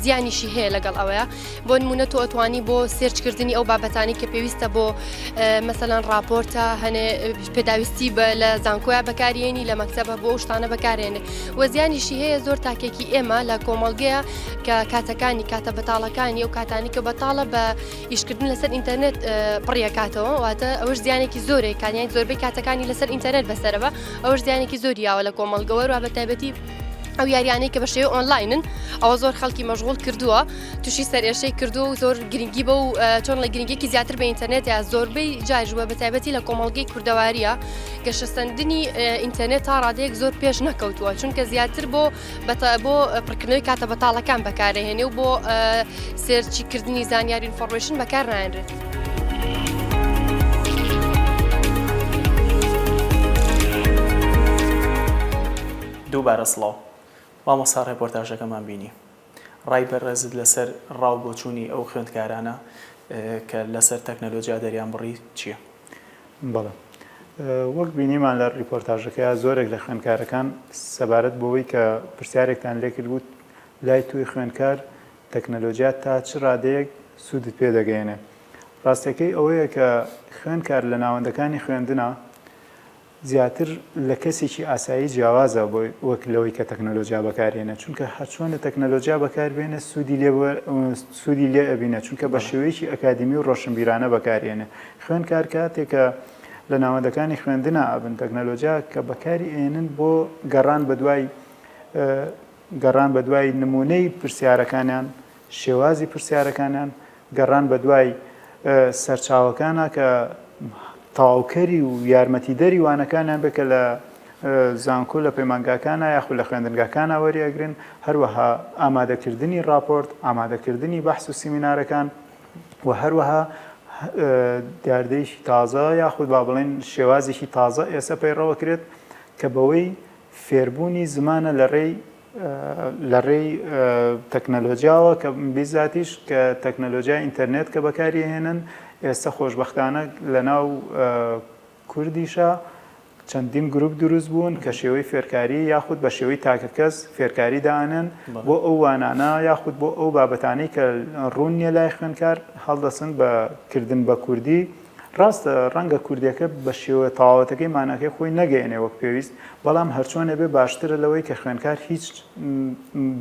زیانیشی هەیە لەگەڵ ئەوەیە بۆ نمونە تۆ ئەتوانی بۆ سێرچکردنی ئەو بابەتانی کە پێویستە بۆ مەسەلاەن راپۆرتە هەنێ پێداویستی بە لە زانکۆیا بەکارێنی لە مەکتتەبە بۆ شتانە بەکارێنێ و زیانیشی هەیە زۆر تاکێکی ئێمە لە کۆمەلگەیە کە کاتەکانی کاتە بەتاڵەکانی و کاتانی کە بەتاڵە بە ئیشکردن لەسەر ئینتەرنێت پڕیەکاتەوە واتە ئەوش زیانێکی زۆرێک کانیان زۆربەی کاتەکانی لەسەر ئینتەرنێت بەسەرەوە ئەوش زیانێکی زۆریاوە لە کۆمەڵگەوە و بە تایبەتی ئەو یاریانەی کە بە شێوە ئۆنلاینن ئەوە زۆر خەڵکی مەژغول کردووە تووشی سەرێشەی کردو و زۆر گرنگی بە و چۆن لە گرنگێکی زیاتر بە ئینتەرنێت یا زۆربەی جاژوە بە تایبەتی لە کۆمەڵگەی کوردەواریە گەشەسەندنی ئینتەرنێت تا ڕادەیەک زۆر پێش نەکەوتووە چونکە زیاتر بۆ بۆ پڕکردنەوەی کاتە بەتاڵەکان بەکارەهێنێ و بۆ سێرچیکردنی زانیاری ئینفۆڕمشن بەکار نایەنرێت. دووبارە سڵاو مامۆستا ڕێپۆرتاژەکەمان بینی ڕای بەڕێزت لەسەر ڕاو بۆچوونی ئەو خوێندکارانە کە لەسەر تەکنەلۆجیا دەریان بڕی چییە؟ بەڵێ. وەک بینیمان لە ڕیپۆرتاژەکەیا زۆرێک لە خوێندکارەکان سەبارەت بەوەی کە پرسیارێکتان لێکردبوو لای تۆی خوێندکار تەکنەلۆجیا تا چ ڕادەیەک سوودت پێ دەگەیەنێ. ڕاستەکەی ئەوەیە کە خوێندکار لە ناوەندەکانی خوێندنا، زیاتر لە کەسێکی ئاسایی جیاوازە وەک لەوەی کە تەکنەلۆجیا بەکارهێنێت چونکە هەرچۆنە تەکنەلۆجیا بەکاربێنێت سوودی لێ سوودی لێ ئەبینێت چونکە بە شێوەیەکی ئەکادیمی و ڕۆشنبیرانە بەکارهێنێت خوێندکار کاتێک کە لە ناوەندەکانی خوێندنا ئەبن تەکنەلۆجیا کە بەکاری ئێنن بۆ گەڕان بەدوای گەڕان بە دوای نموونەی پرسیارەکانیان، شێوازی پرسیارەکانیان، گەڕان بە دوای سەرچاوەکانە کە تەواوکەری و یارمەتیدەری وانەکانیان بێت کە لە زانکۆ لە پەیمانگاکانە یاخود لە خوێندنگاکانە وەری ئەگرن، هەروەها ئامادەکردنی ڕاپۆرت، ئامادەکردنی بەحس و سیمینارەکان و هەروەها دیاردەیەکی تازە یاخود با بڵێین شێوازێکی تازە ئێستا پەیڕەوە کرێت کە بەوەی فێربوونی زمانە لە ڕێی لە ڕێی تەکنەلۆجیاوە کە بیزاتیش کە تەکنەلۆجیای ئینتەرنێت کە بەکاری هێنن ئێستا خۆشبەختانە لە ناو کوردیشە چەندین گروپ دروست بوون کە شێوەی فێرکاری یاخود بە شێوەی تاکەکەس فێرکاری دانن بۆ ئەو وانانە یاخود بۆ ئەو بابەتانەی کە ڕوون نیە لای خوێنکار هەڵدەسن بە کردن بە کوردی ڕاستە ڕەنگە کوردیەکە بە شێوە تەواوەتەکەی ماناکەی خۆی نەگەیەنێ وەک پێویست، بەڵام هەرچۆنێ بێ باشترە لەوەی کە خوێنکار هیچ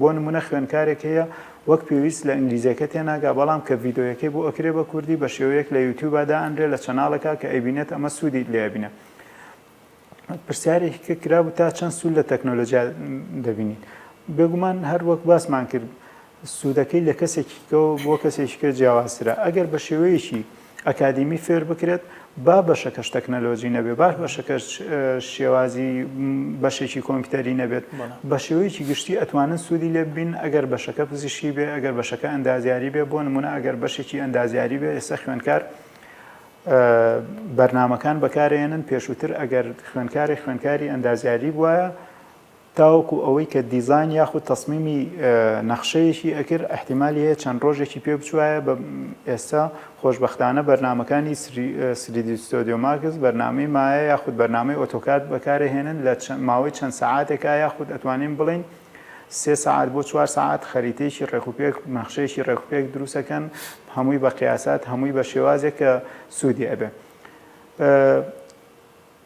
بۆ نمونە خوێنکارێک هەیە وەک پێویست لە ئینگلیزیەکە تێناگا بەڵام کە ڤیدۆیەکەی بۆ ئەکرێ بە کوردی بە شێوەیەک لە یوتیوبا دائەنرێ لە چەناڵەکا کە ئەیبینێت ئەمە سوودی لێ ئەبینێ پرسیارێکی کە کرابوو تا چەند سوود لە تەکنۆلۆژیا دەبینین بێگومان هەر وەک باسمان کرد سوودەکەی لە کەسێکیکەوە بۆ کەسێکیکە جیاوازترە ئەگەر بە شێوەیەکی ئەکادیمی فێر بکرێت با بەشەکەش تەکنەلۆجی نەبێ باش بەشەکەش شێوازی بەشێکی کۆمپیوتەری نەبێت بە شێوەیەکی گشتی ئەتوانن سوودی لێ بین ئەگەر بەشەکە پزیشی بێ ئەگەر بەشەکە ئەندازیاری بێ بۆ نمونە ئەگەر بەشێکی ئەندازیاری بێ ئێستا خوێنکار بەرنامەکان بەکارێنن، پێشووتر ئەگەر خوێندکارێک خوێندکاری ئەندازیاری بوایە تاوەکو ئەوەی کە دیزاین یاخود تەسمیمی نەخشەیەکی ئەکرد ئەحتیمالی هەیە چەند ڕۆژێکی پێ بچوایە بە ئێستا خۆشببختانە بەرنمەکانی سریدیستۆدیۆ ماکس بەرنمەی مایە یاخود بەرنمەی ئۆتۆکات بەکارێهێنن لە ماوەی چەند سەعاتێکە یاخود ئەتوانین بڵین سێ سەعات بۆ چوار سەعات خەریتەیەکی ڕێکوپێک نەخشەیەکی ڕێکوپێک دروست ئەکەن هەمووی بە قیاسات هەمووی بە شێوازێک کە سوودی ئەبێ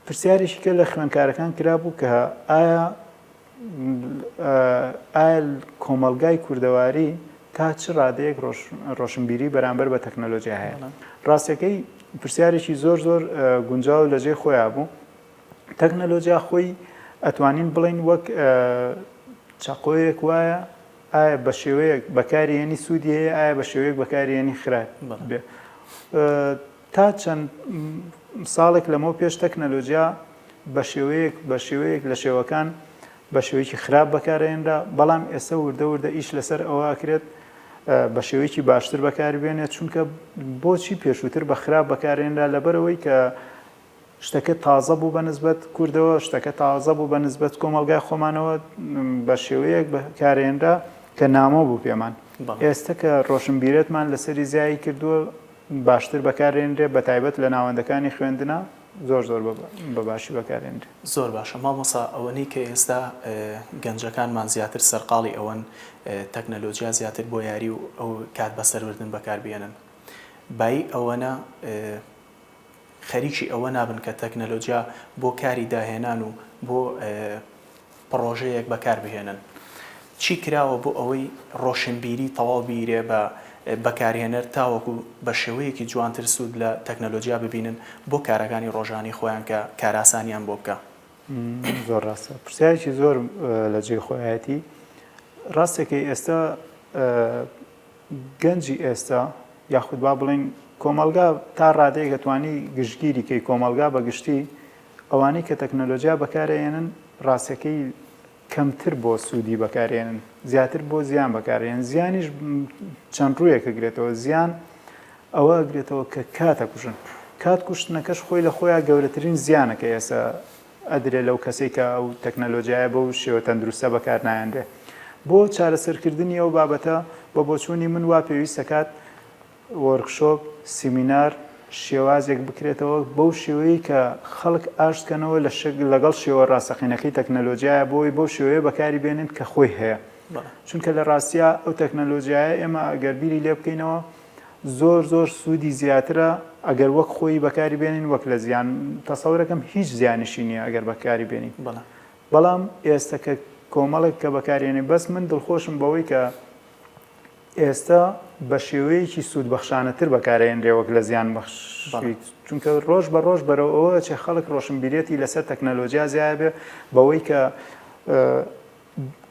پرسیارێکی کە لە خوێندکارەکان کرابوو کە ئایا ئایل کۆمەلگای کوردەواری تا چ ڕادەیەک ڕۆشنبیری بەرامبەر بە تەکنەلۆژیا هەیە ڕاستەکەی پرسیارێکی زۆر زۆر گونجاو لەجێ خۆیان بوو تەکنەلۆجیا خۆی ئەتوانین بڵێین وەک چەقۆیەک وایە ئایا بە شێوەیەک بەکارێنی سوودی هەیە ئایا بە شێوەیەک بەکارێنی خراپ بێ تا چەند ساڵێک لەمەوە پێش تەکنەلۆجیا بە شێوەیەک بە شێوەیەک لە شێوەکان بە شێوەیەکی خراپ بەکارێنرا بەڵام ئێستا وردە وردە ئیش لەسەر ئەوە ئەکرێت بە شێوەیەکی باشتر بەکاربێنێت چونکە بۆچی پێشووتر بە خراپ بەکارێنرا لەبەرەوەی کە شتەکە تازە بوو بە نسبەت کوردەوە، شتەکە تازە بوو بە نسبەت کۆمەڵگای خۆمانەوە، بە شێوەیەک بەکارهێنرا کە نامۆ بوو پێمان. ئێستە کە ڕۆشنبیرەتمان لەسەری زیایی کردووە، باشتر بەکارهێنرێ، بە تایبەت لە ناوەندەکانی خوێندنا زۆر زۆر بە باشی بەکارهێنرێ. زۆر باشە مامۆستا، ئەوەنەی کە ئێستا گەنجەکانمان زیاتر سەرقاڵی ئەوەن تەکنەلۆجیا زیاتر بۆ یاری و کات بەسەربردن بەکاربهێنن، بایی ئەوەنە، خەریکی ئەوە نابن کە تەکنەلۆجیا بۆ کاری داهێنان و بۆ پڕۆژەیەک بەکار بهێنن. چی کراوە بۆ ئەوەی ڕۆشنبیری تەواو بیرێ بە بەکارهێنەر تاوەکو بە شێوەیەکی جوانتر سوود لە تەکنەلۆجیا ببینن بۆ کارەکانی ڕۆژانەی خۆیان کە کارئاسانیان بۆ بکا؟ زۆر ڕاستە. پرسیارێکی زۆر لە جێی خۆیەتی. ڕاستەکەی ئێستا گەنجی ئێستا یاخود با بڵێین کۆمەڵگا تا ڕادەیەک ئەتوانی گشتگیری کەی کۆمەڵگا بە گشتی ئەوانەی کە تەکنەلۆجیا بەکارەیەنن ڕاستەکەی کەمتر بۆ سوودی بەکارێنن زیاتر بۆ زیان بەکارێن زیانیش چەند ڕوویەکە گرێتەوە زیان ئەوە گرێتەوە کە کاتە کوژن کات کوشتنەکەش خۆی لە خۆیان گەورەترین زیانەکە ئێستا ئەدرێ لەو کەسەی کە ئەو تەکنەلۆجیایە بەو شێوە تەندروستە بەکار نایەنرێ بۆ چارەسەرکردنی ئەو بابەتە بە بۆچوونی من وا پێویست دەکات وۆرکشۆپ سیمینار شێوازێک بکرێتەوە بەو شێوەیە کە خەڵک ئاشتکەنەوە لە شک لەگەڵ شێوە ڕاستەقینەکەی تەکنەلۆجیایە بۆی بەو شێوەیە بەکاری بێنن کە خۆی هەیە چونکە لە ڕاستە ئەو تەکنەلۆجیایە ئێمە ئەگەر بیری لێ بکەینەوە زۆر زۆر سودی زیاترە ئەگەر وەک خۆی بەکاری بێنین وەک لە زیان تەسەورەکەم هیچ زیانیشی نییە ئەگەر بەکاری بێنین بەڵام بەڵام ئێستا کە کۆمەڵێک کە بەکارێنێ بەس من دڵخۆشم بەوەی کە ئێستا بە شێوەیەکی سوودبەخشانەتر بەکارێنرێ وەک لە زیان بەخش چونکە ڕۆژ بە ڕۆژ بەرەوە ئەوە چێ خەڵک ڕۆشنبیرەتی لەسەر تەکنەلۆجیا زیایە بێ بەوەی کە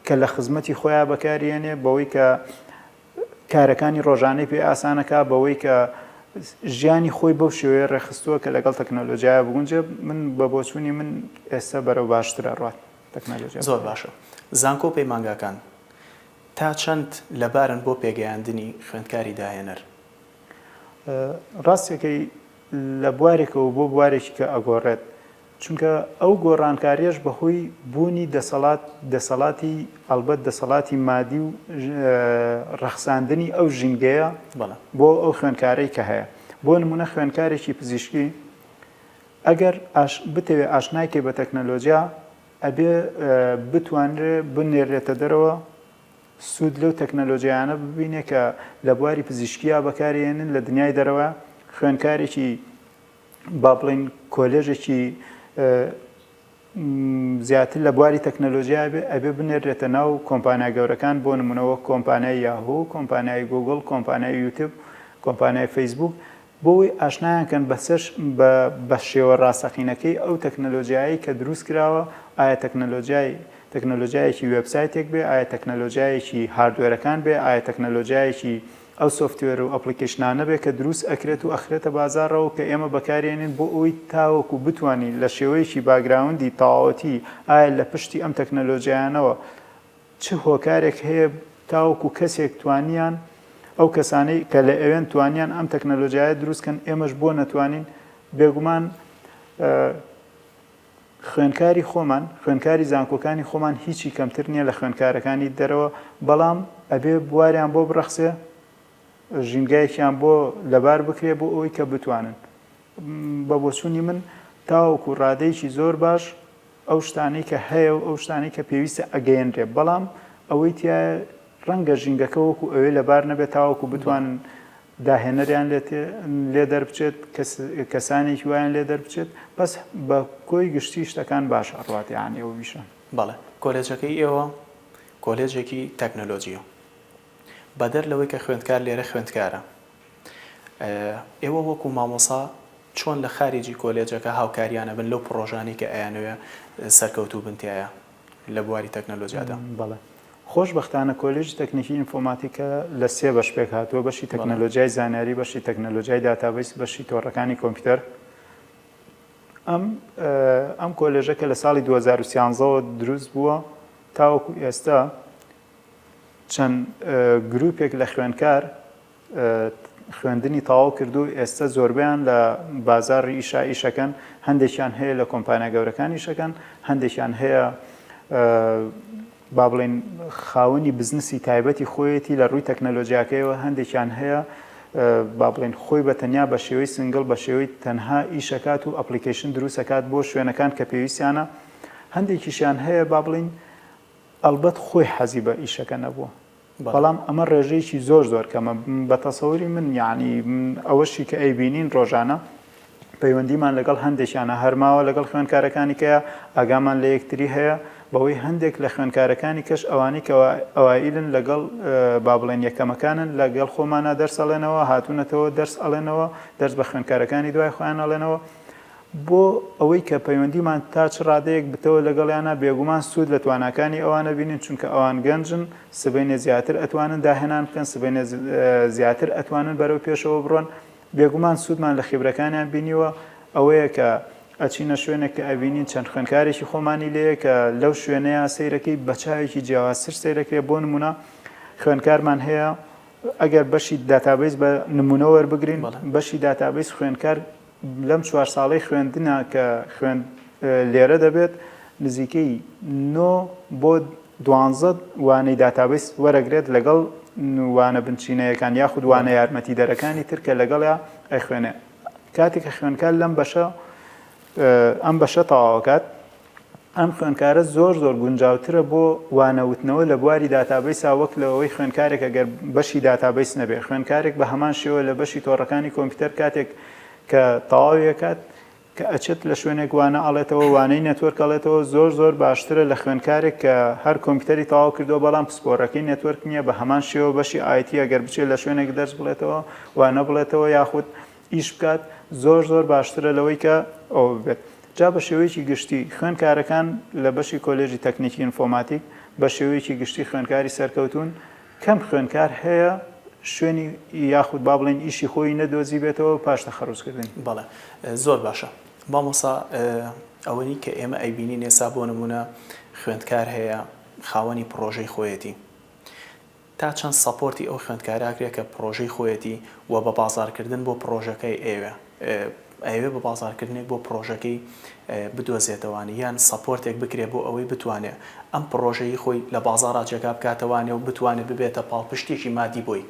کە لە خزمەتی خۆیان بەکارێنێ بەوەی کە کارەکانی ڕۆژانەی پێ ئاسانەکا بەوەی کە ژیانی خۆی بەو شێوەیە ڕێخستووە کە لەگەڵ تەکنەلۆجیایە بگونجێ من بە بۆچوونی من ئێستا بەرەو باشترە ڕات تەکنەلۆجیا زۆر باشە زانکۆ پەیمانگاکان تا چەند لەبارن بۆ پێگەیاندنی خوێندکاری داهێنەر؟ ڕاستەکەی لە بوارێکەوە بۆ بوارێکی کە ئەگۆڕێت چونکە ئەو گۆڕانکاریەش بەهۆی بوونی دەسەڵات دەسەڵاتی ئەڵبەت دەسەڵاتی مادی و ڕەخساندنی ئەو ژینگەیە بۆ ئەو خوێندکارەی کە هەیە بۆ نمونە خوێندکارێکی پزیشکی ئەگەر بتەوێ ئاشنای کەی بە تەکنەلۆجیا ئەبێ بتوانرێ بنێرێتە دەرەوە سوود لەو تەکنەلۆجیانە ببینێ کە لە بواری پزیشکیا بەکارێنن لە دنیای دەرەوە خوێندکارێکی با بڵێین کۆلێژێکی زیاتر لە بواری تەکنەلۆژیا بێ ئەبێ بنێرێتە ناو کۆمپانیا گەورەکان بۆ نمونەوە کۆمپانیای یاهۆ کۆمپانیای گوگل کۆمپانیای یوتب کۆمپانیای فەیسبوک بۆی ئاشنایان کەن بەسەر بە شێوە ڕاستەقینەکەی ئەو تەکنەلۆژیایی کە دروست کراوە ئایا تەکنەلۆژیای تەکنەلۆژیایەکی وبسایتێک بێ ئایا تەکنەلۆژیایەکی هاردوێرەکان بێ ئایا تەکنەلۆژیایەکی ئەو سۆفتوێر و ئەپڵیکەیشنانە بێ کە دروست ئەکرێت و ئەخرێتە بازاڕەوە کە ئێمە بەکاری ئەینین بۆ ئەوەی تاوەکو بتوانین لە شێوەیەکی باگراوندی تەواوەتی ئایا لە پشتی ئەم تەکنەلۆجیایانەوە چ هۆکارێک هەیە تاوەکو کەسێک توانیان ئەو کەسانەی کە لە ئەوێن توانیان ئەم تەکنەلۆجیایە دروست کەن ئێمەش بۆ نەتوانین بێگومان خوێندکاری خۆمان، خوێندکاری زانکۆکانی خۆمان هیچی کەمتر نیە لە خوێندکارەکانی دەرەوە، بەڵام ئەبێ بواریان بۆ بڕەخسێ، ژینگایەکیان بۆ لەبار بکرێ بۆ ئەوەی کە بتوانن. بە بۆچوونی من تاوەکو ڕادەیەکی زۆر باش ئەو شتانەی کە هەیە و ئەو شتانەی کە پێویستە ئەگەیەنرێ، بەڵام ئەوەی تیایە ڕەنگە ژینگەکە وەکو ئەوێ لەبار نەبێ تاوەکو بتوانن داهێنەریان لێ دەربچێت کەسانێکی وایان لێ دەربچێت بەس بە کۆی گشتی شتەکان باش ئەڕوات یانی ئەو ویشە. بەڵێ کۆلێجەکەی ئێوە کۆلێجێکی تەکنەلۆجیە بەدەر لەوەی کە خوێندکار لێرە خوێندکارە ئێوە وەکو مامۆسا چۆن لە خاریجی کۆلێجەکە هاوکاریان ئەبن لەو پڕۆژانەی کە ئەیانەوێ سەرکەوتوو بن تیایا لە بواری تەکنەلۆجیادا؟ بەڵێ. خۆشبەختانە کۆلێژی تەکنیکی ئینفۆماتیکە لە سێ بەش پێک هاتووە، بەشی تەکنەلۆجیای زانیاری، بەشی تەکنەلۆجیای داتابەیس، بەشی تۆڕەکانی کۆمپیوتەر. ئەم ئەم کۆلێژە کە لە ساڵی دوو هەزار و سیانزە وە دروست بووە تاوەکو ئێستا چەند گروپێک لە خوێندکار خوێندنی تەواو کردو ئێستە زۆربەیان لە بازاڕی ئیشا ئیشەکەن هەندێکیان هەیە لە کۆمپانیا گەورەکان ئیشەکەن هەندێکیان هەیە با بڵێن خاوەنی بزنسی تایبەتی خۆیەتی لە ڕووی تەکنەلۆژیاکەیەوە هەندێکیان هەیە با بڵێن خۆی بە تەنیا بە شێوەی سنگل بە شێوەی تەنها ئیشەکات و ئەپلیکیشن دروستەکات بۆ شوێنەکان کە پێویستیانە هەندێکیشیان هەیە با بڵین ئەلبەت خۆی حەزی بە ئیشەکە نەبووە بەڵام ئەمە ڕێژەیەکی زۆر زۆر کەمە بە تەسەوری من یاعنی ئەوەشی کە ئەی بینین ڕۆژانە پەیوەندیمان لەگەڵ هەندێکیانە هەرماوە لەگەڵ خوێنکارەکانی کەە ئاگامان لە یەکتری هەیە بەوەی هەندێک لە خوێنکارەکانی کەش ئەوانی کەەوە ئەوائیلن لەگەڵ با بڵێن یەکەمەکانن لەگەڵ خۆمانە دەرسەڵێنەوە هاتوونەتەوە دەرس ئەڵێنەوە دەرس بە خوێنکارەکانی دوای خۆیان ئەڵێنەوە بۆ ئەوەی کە پەیوەندیمان تا چ ڕادەیەک بتەوە لەگەڵیانا، بێگومان سوود لە تواناکانی ئەوانە بینین، چونکە ئەوان گەنجن، سبەینێ زیاتر ئەتوانن داهێنان بکەن، سبەینێ زیاتر ئەتوانن بەرەو پێشەوە بڕۆن، بێگومان سوودمان لە خیبرەکانیان بینیوە، ئەوەیە کە ئەچینە شوێنێک کە ئەبینین چەند خوێندکارێکی خۆمانی لێیە کە لەو شوێنەیا سەیرەکەی بە چاوێکی جیاوازتر سەیرەکرێ، بۆ نموونە خوێندکارمان هەیە ئەگەر بەشی داتابەیس بە نموونە وەربگرین، بەشی داتابەیس خوێندکار لەم چوار ساڵەی خوێندنا کە خوێند لێرە دەبێت نزیکەی نۆ بۆ دوانزە وانەی داتابەیس وەرەگرێت لەگەڵ وانە بنچینەیەکان یاخود وانە یارمەتیدەرەکانی تر کە لەگەڵیا ئەیخوێنێ کاتێک کە خوێندکار لەم بەشە ئەم بەشە تەواوکات ئەم خوێندکارە زۆر زۆر گونجاوترە بۆ وانە وتنەوە لە بواری داتابەیسا وەک لەوەی خوێندکارێک ئەگەر بەشی داتابەیس نەبێت خوێندکارێک بە هەمان شێوە لە بەشی تۆڕەکانی کۆمپیوتەر کاتێک کە تەواوی ئەکات کە ئەچێت لە شوێنێک وانە ئەڵێتەوە وانەی نەتوەرک ئەڵێتەوە زۆر زۆر باشترە لە خوێندکارێک کە هەر کۆمپیوتەری تەواو کردووە بەڵام پسپۆرەکەی نەتوەرک نییە بە هەمان شێوە بەشی ئایتی ئەگەر بچێت لە شوێنێک دەرس بڵێتەوە وانە بڵێتەوە یاخود ئیش بکات زۆر زۆر باشترە لەوەی کە ئەوە ببێت جا بە شێوەیەکی گشتی خوێنکارەکان لە بەشی کۆلێژی تەکنیکی ئینفۆماتیک بە شێوەیەکی گشتی خوێنکاری سەرکەوتوون کەم خوێنکار هەیە شوێنی یاخود با بڵێن ئیشی خۆی نەدۆزیبێتەوە پاش تەخەروجکردنی. بەڵێ زۆر باشە مامۆسا ئەوەی کە ئێمە ئەیبینین ئێستا بۆ نموونە خوێندکار هەیە خاوەنی پڕۆژەی خۆیەتی تا چەند سەپۆرتی ئەو خوێندکارە ئەکرێ کە پڕۆژەی خۆیەتی و بە بازاڕکردن بۆ پڕۆژەکەی ئەیەوێ ئەیەوێ بە بازاڕکردنێک بۆ پڕۆژەکەی بدۆزێتەوانی یان سەپۆرتێک بکرێ بۆ ئەوەی بتوانێ ئەم پڕۆژەی خۆی لە بازاڕا جێگا بکاتەوانێ و بتوانێ ببێتە پاڵپشتیەکی مادی بۆی.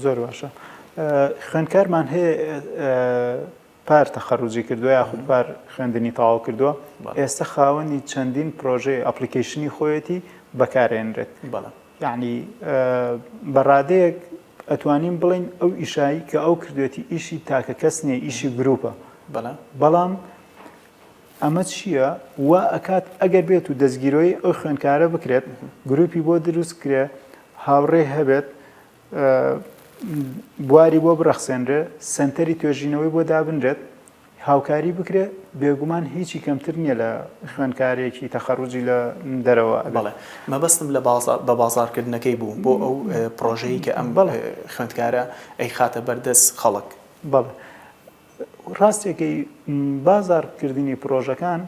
زۆر باشە خوێندکارمان هەیە پار تەخەروجی کردووە یاخود پار خوێندنی تەواو کردووە ئێستە خاوەنی چەندین پرۆژەی ئەپلیکەیشنی خۆیەتی بەکارێنرێت یەعنی بە ڕادەیەک ئەتوانین بڵێین ئەو ئیشایی کە ئەو کردوێتی ئیشی تاکە کەس نییە ئیشی گروپە بەڵام ئەمە چییە وا ئەکات ئەگەر بێت و دەستگیرۆی ئەو خوێندکارە بکرێت گروپی بۆ دروست کرێ هاوڕێ هەبێت بواری بۆ بڕەخسێنرێ، سەنتەری توێژینەوەی بۆ دابنرێت، هاوکاری بکرێ، بێگومان هیچی کەمتر نییە لە خوێندکارێکی تەخەڕوجی لە دەرەوە. بەڵێ، مەبەستم لە بە بازاڕکردنەکەی بوو بۆ ئەو پڕۆژەی کە ئەم خوێندکارە ئەیخاتە بەر دەست خەڵک. بەڵێ، ڕاستەکەی، بازاڕکردنی پڕۆژەکان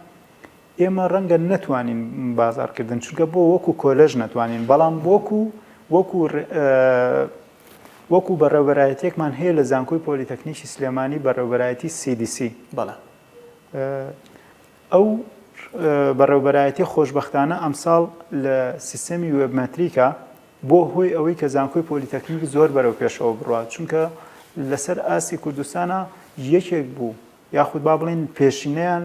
ئێمە ڕەنگە نەتوانین بازاڕکردن چونکە بۆ وەکو کۆلەژ نەتوانین بەڵام وەکو وەکو وەکو بەڕێوبەرایەتێکمان هەیە لە زانکۆی پۆلیتەکنیکی سلێمانی بەڕێوبەرایەتی CDC بەڵە ئەو بەڕێوبەرایەتی خۆشببختانە ئەمساڵ لە سیستەمی وێبمەتریکە بۆ هۆی ئەوەی کە زانکۆی پۆلیتەکنیک زۆر بەرەو پێشەوە بڕات چونکە لەسەر ئاسی کوردستانە یەکێک بوو یاخود با بڵێین پێشینەیان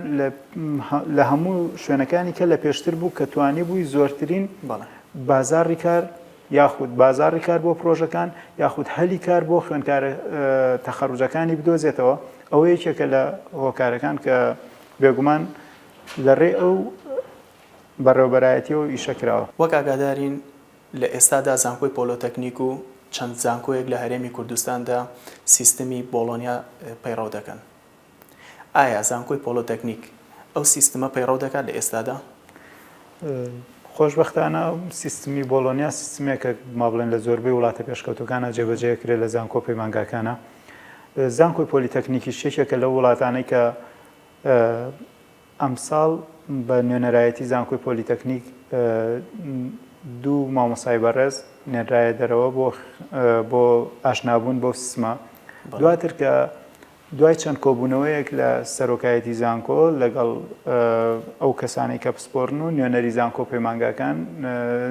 لە هەموو شوێنەکانی کە لە پێشتر بوو کە توانیبووی زۆرترین بازاڕی کار یاخود بازاڕی کار بۆ پرۆژەکان یاخود هەلی کار بۆ خوێندکارە تەخەروجەکانی بدۆزێتەوە ئەوە یەکێکە لە هۆکارەکان کە بێگومان لە ڕێ ئەو بەڕێوبەرایەتیەوە ئیشە کراوە. وەک ئاگادارین لە ئێستادا زانکۆی پۆلۆتەکنیک و چەند زانکۆیەک لە هەرێمی کوردستاندا سیستمی بۆڵۆنیا پەیڕەو دەکەن. ئایا زانکۆی پۆلۆتەکنیک ئەو سیستمە پەیڕەو دەکات لە ئێستادا؟ خۆشبەختانە سیستمی بۆڵۆنیا سیستمێکە ما بڵێن لە زۆربەی وڵاتە پێشکەوتەکانە جێبەجێ دەکرێت لە زانکۆ و پەیمانگاکانە. زانکۆی پۆلیتەکنیکیش یەکێکە لەو وڵاتانەی کە ئەمساڵ بە نوێنەرایەتی زانکۆی پۆلیتەکنیک دوو مامۆستای بەڕێز نێنرایە دەرەوە بۆ بۆ ئاشنابوون بەو سیستمە دواتر کە دوای چەند کۆبوونەوەیەک لە سەرۆکایەتی زانکۆ لەگەڵ ئەو کەسانی کە پسپۆرن و نوێنەری زانکۆ پەیمانگاکان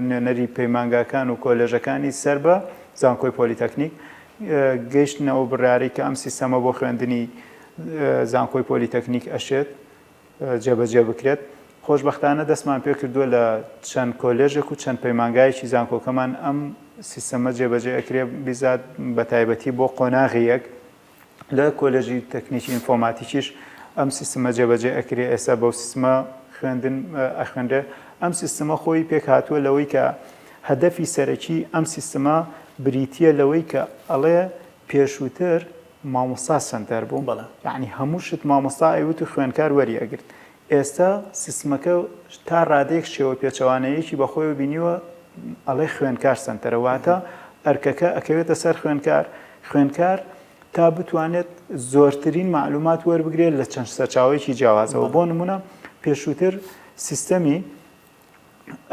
نوێنەری پەیمانگاکان و کۆلێژەکانی سەر بە زانکۆی پۆلیتەکنیک گەیشتنەوە بڕارێک کە ئەم سیستەمە بۆ خوێندنی زانکۆی پۆلیتەکنیک ئەشێت جێبەجێ بکرێت خۆشببختانە دەستمان پێ کردووە لە چەند کۆلێژێک و چەند پەیمانگایەکی زانکۆکەمان ئەم سیستەمە جێبەجێ ئەکرێ بزات بە تایبەتی بۆ قۆناغی یەک لە کۆلێژی تەکنیکی ئینفۆماتیکیش ئەم سیستمە جێبەجێ ئەکرێ ئێستا بەو سیستمە خوێندن ئەخوێنرێ ئەم سیستمە خۆی پێک هاتووە لەوەی کە هەدەفی سەرەکی ئەم سیستمە بریتە لەوەی کە ئەڵێ پێشووتر مامۆستا سەنتەر بوو بەڵێ. یەعنی هەموو شت مامۆستا ئەیوت و خوێنکار وەری ئەگرت ئێستا سیستمەکە تا ڕادەیەک شێوە پێچەوانەیەکی بە خۆیەوە بینیوە ئەڵێ خوێنکار سەنتەرە واتە ئەرکەکە ئەکەوێتە سەر خوێنکار خوێنکار تا بتوانێت زۆرترین معلومات وەربگرێت لە چەند سەرچاوەیەکی جیاوازەوە بۆ نمونە پێشووتر سیستەمی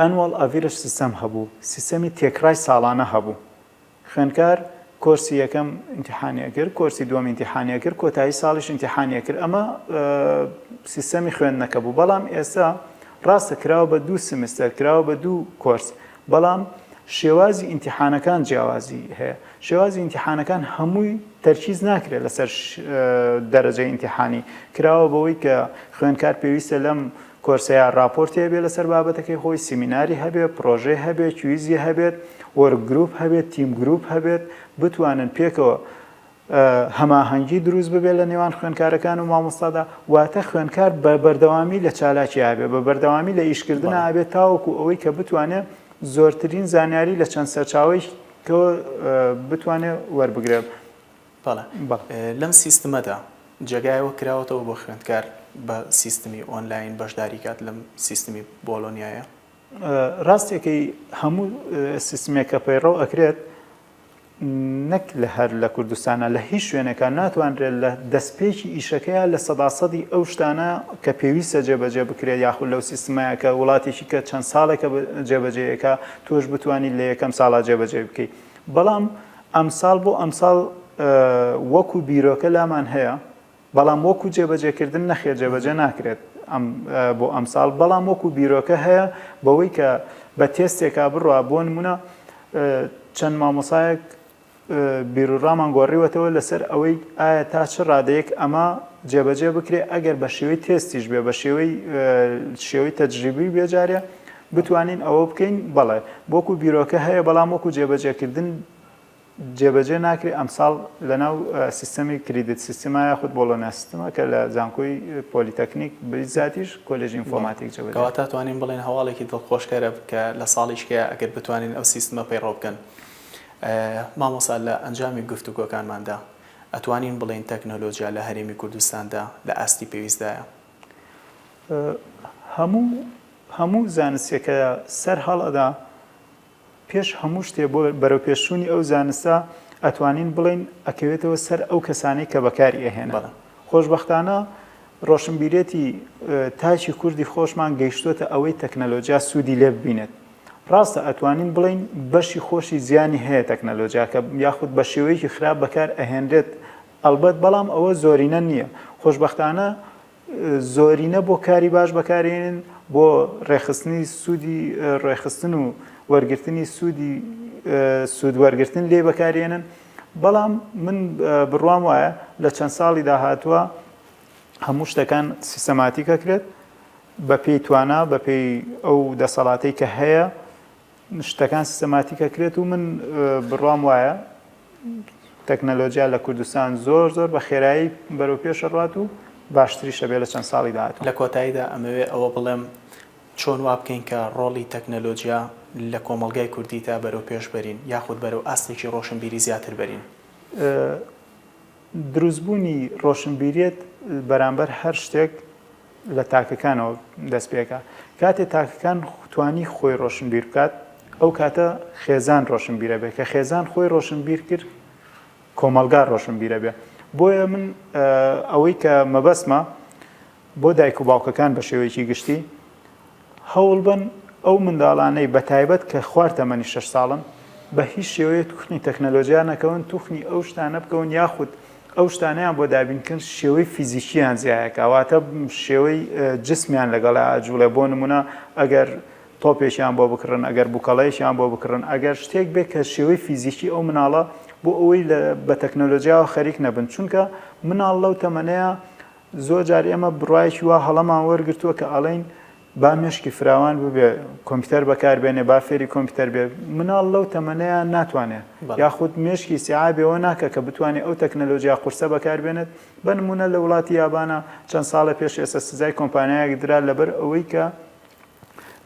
ئەنوەڵ ئەڤیرش سیستەم هەبوو سیستەمی تێکڕای ساڵانە هەبوو خوێندکار کۆرسی یەکەم ئینتیحانی ئەکرد کۆرسی دووەم ئینتیحانی ئەکرد کۆتایی ساڵیش ئینتیحانی ئەکرد ئەمە سیستەمی خوێندنەکە بوو بەڵام ئێستا ڕاستە کراوە بە دوو سمستەر کراوە بە دوو کۆرس بەڵام شێوازی ئینتیحانەکان جیاوازی هەیە شێوازی ئینتیحانەکان هەمووی تەرکیز ناکرێت لەسەر دەرەجە ئینتیحانی کراوە بەوەی کە خوێندکار پێویستە لەم کۆرسەیە ڕاپۆرتی هەبێت لەسەر بابەتەکەی خۆی، سیمیناری هەبێت، پڕۆژەی هەبێت، کویزی هەبێت، وۆرک گروپ هەبێت، تیم گروپ هەبێت، بتوانن پێکەوە هەماهەنگی دروست ببێت لە نێوان خوێندکارەکان و مامۆستادا، واتە خوێندکار بە بەردەوامی لە چالاکی ئابێت، بە بەردەوامی لە ئیشکردن ئابێت تاوەکو ئەوەی کە بتوانێت زۆرترین زانیاری لە چەند سەرچاوەیەکەوە بتوانێت وەربگرێت. بەڵێ. لەم سیستمەدا جێگایەوە کراوەتەوە بۆ خوێندکار بە سیستمی ئۆنلاین بەشداری کات لەم سیستمی بۆلۆنیایە؟ ڕاستەکەی هەموو سیستمێک کە پەیڕەو ئەکرێت نەک لە هەر لە کوردستانە لە هیچ شوێنێکە ناتوانرێت لە دەستپێکی ئیشەکەیە لە سەدا سەدی ئەو شتانە کە پێویستە جێبەجێ بکرێت یاخود لەو سیستمەیە کە وڵاتێکی کە چەند ساڵێکە جێبەجێیەکە تۆش بتوانیت لە یەکەم ساڵا جێبەجێ بکەیت بەڵام ئەمساڵ بۆ ئەمساڵ وەکو بیرۆکە لامان هەیە، بەڵام وەکو جێبەجێکردن نەخێر جێبەجێ ناکرێت بۆ ئەمساڵ، بەڵام وەکو بیرۆکە هەیە بەوەی کە بە تێستێکا بڕوا بۆ نمونە چەند مامۆسایەک بیروڕامان گۆڕیوەتەوە لەسەر ئەوەی ئایا تا چ ڕادەیەک ئەمە جێبەجێ بکرێ ئەگەر بە شێوەی تێستیش بێ بە شێوەی شێوەی تەجریبی بێجارێ بتوانین ئەوە بکەین؟ بەڵێ. وەکو بیرۆکە هەیە، بەڵام وەکو جێبەجێکردن جێبەجێ ناکرێت، ئەمساڵ لەناو سیستەمی کریدت سیستما یاخود بۆڵۆنیا سیستما کە لە زانکۆی پۆلیتەکنیک بزاتیش کۆلێژی ئینفۆماتیک جێبەجێ دەکرێت. کەواتە توانین بڵێین هەواڵێکی دڵخۆشکەرە کە لە ساڵیشکەیە ئەگەر بتوانین ئەو سیستمە پەیڕەو بکەن. مامۆستا لە ئەنجامی گفتوگۆکانماندا ئەتوانین بڵێین تەکنۆلۆجیا لە هەرێمی کوردستاندا لە ئاستی پێویستدایە؟ هەموو هەموو زانستێکە سەر هەڵ ئەدا پێش هەموو شتێ بۆ بەرەوپێشوونی ئەو زانستە ئەتوانین بڵین ئەکەوێتەوە سەر ئەو کەسانەی کە بەکاری ئەهێن خۆشببختانە ڕۆشنبیرێتی تاچی کوردی خۆشمان گەیشتوتە ئەوەی تەکنەلۆجیا سوودی لێ ببینێت ڕاستە ئەتوانین بڵین بەشی خۆشی زیانی هەیە تەکنەلۆجیاکە یاخود بە شێوەیەکی خراپ بەکار ئەهێنرێت ئەڵبەت بەڵام ئەوە زۆرینە نییە. خۆشبەختانە زۆرینە بۆ کاری باش بەکارێنن بۆ ڕێخستنی سوودی ڕێخستن و وەرگرتنی سوودی سوود وەرگرتن لێ بەکارێنن بەڵام من بڕوام وایە لە چەند ساڵی داهاتوە هەموو شتەکان سیستەماتیکەکرێت بەپێی توانا بەپێی ئەو دەسەڵاتی کە هەیە شتەکان سیستەماتیک ئەکرێت و من بڕوام وایە تەکنەلۆجیا لە کوردستان زۆر زۆر بە خێرایی بەرەو پێش ئەڕوات و باشتریشە بێ لە چەند ساڵی داهاتوو. لە کۆتاییدا ئەمەوێ ئەوە بڵێم چۆن وا بکەین کە ڕۆڵی تەکنەلۆجیا لە کۆمەڵگای کوردیدا بەرەو پێش بەرین یاخود بەرەو ئاستێکی ڕۆشنبیری زیاتر بەرین؟ دروستبوونی ڕۆشنبیریەت بەرامبەر هەر شتێک، لە تاکەکانەوە دەست پێکا کاتێ تاکەکان توانی خۆی ڕۆشنبیر بکات ئەو کاتە خێزان ڕۆشنبیرە بێ کە خێزان خۆی ڕۆشنبیر کرد کۆمەلگا ڕۆشنبیرە بێ بۆیە من ئەوەی کە مەبەسمە بۆ دایک و باوکەکان بە شێوەیەکی گشتی هەوڵبەن ئەو منداڵانەی بە تایبەت کە خوار تەمەنی شەش ساڵن بە هیچ شێوەیە توخنی تەکنەلۆجیا نەکەون، توخنی ئەو شتانە بکەون یاخود ئەو شتانەیان بۆ دابین کەن شێوەی فیزیکیان جیایەکا واتە شێوەی جسمیان لەگەڵا ئەجوڵێ بۆ نمونە ئەگەر تۆپێکیان بۆ بکڕن ئەگەر بوکەڵەیەکیان بۆ بکڕن ئەگەر شتێک بێ کە شێوەی فیزیکی ئەو مناڵە بۆ ئەوەی لە بە تەکنەلۆجیاوە خەریک نەبن چونکە مناڵ لەو تەمەنەیە زۆر جار ئێمە بڕوایەکی وا هەڵەمان وەرگرتووە کە ئەڵێین با مێشکی فراوان ببێ کۆمپیوتەر بەکار بێنێ با فێری کۆمپیوتەر بێ مناڵ لەو تەمەنەیە ناتوانێ یاخود مێشکی سیعابێەوە ناکە کە بتوانێت ئەو تەکنەلۆژیا قورسە بەکار بێنێت بە نمونە لە وڵاتی یابانە چەند ساڵە پێش ئێستا سزای کۆمپانیایەک درا لەبەر ئەوەی کە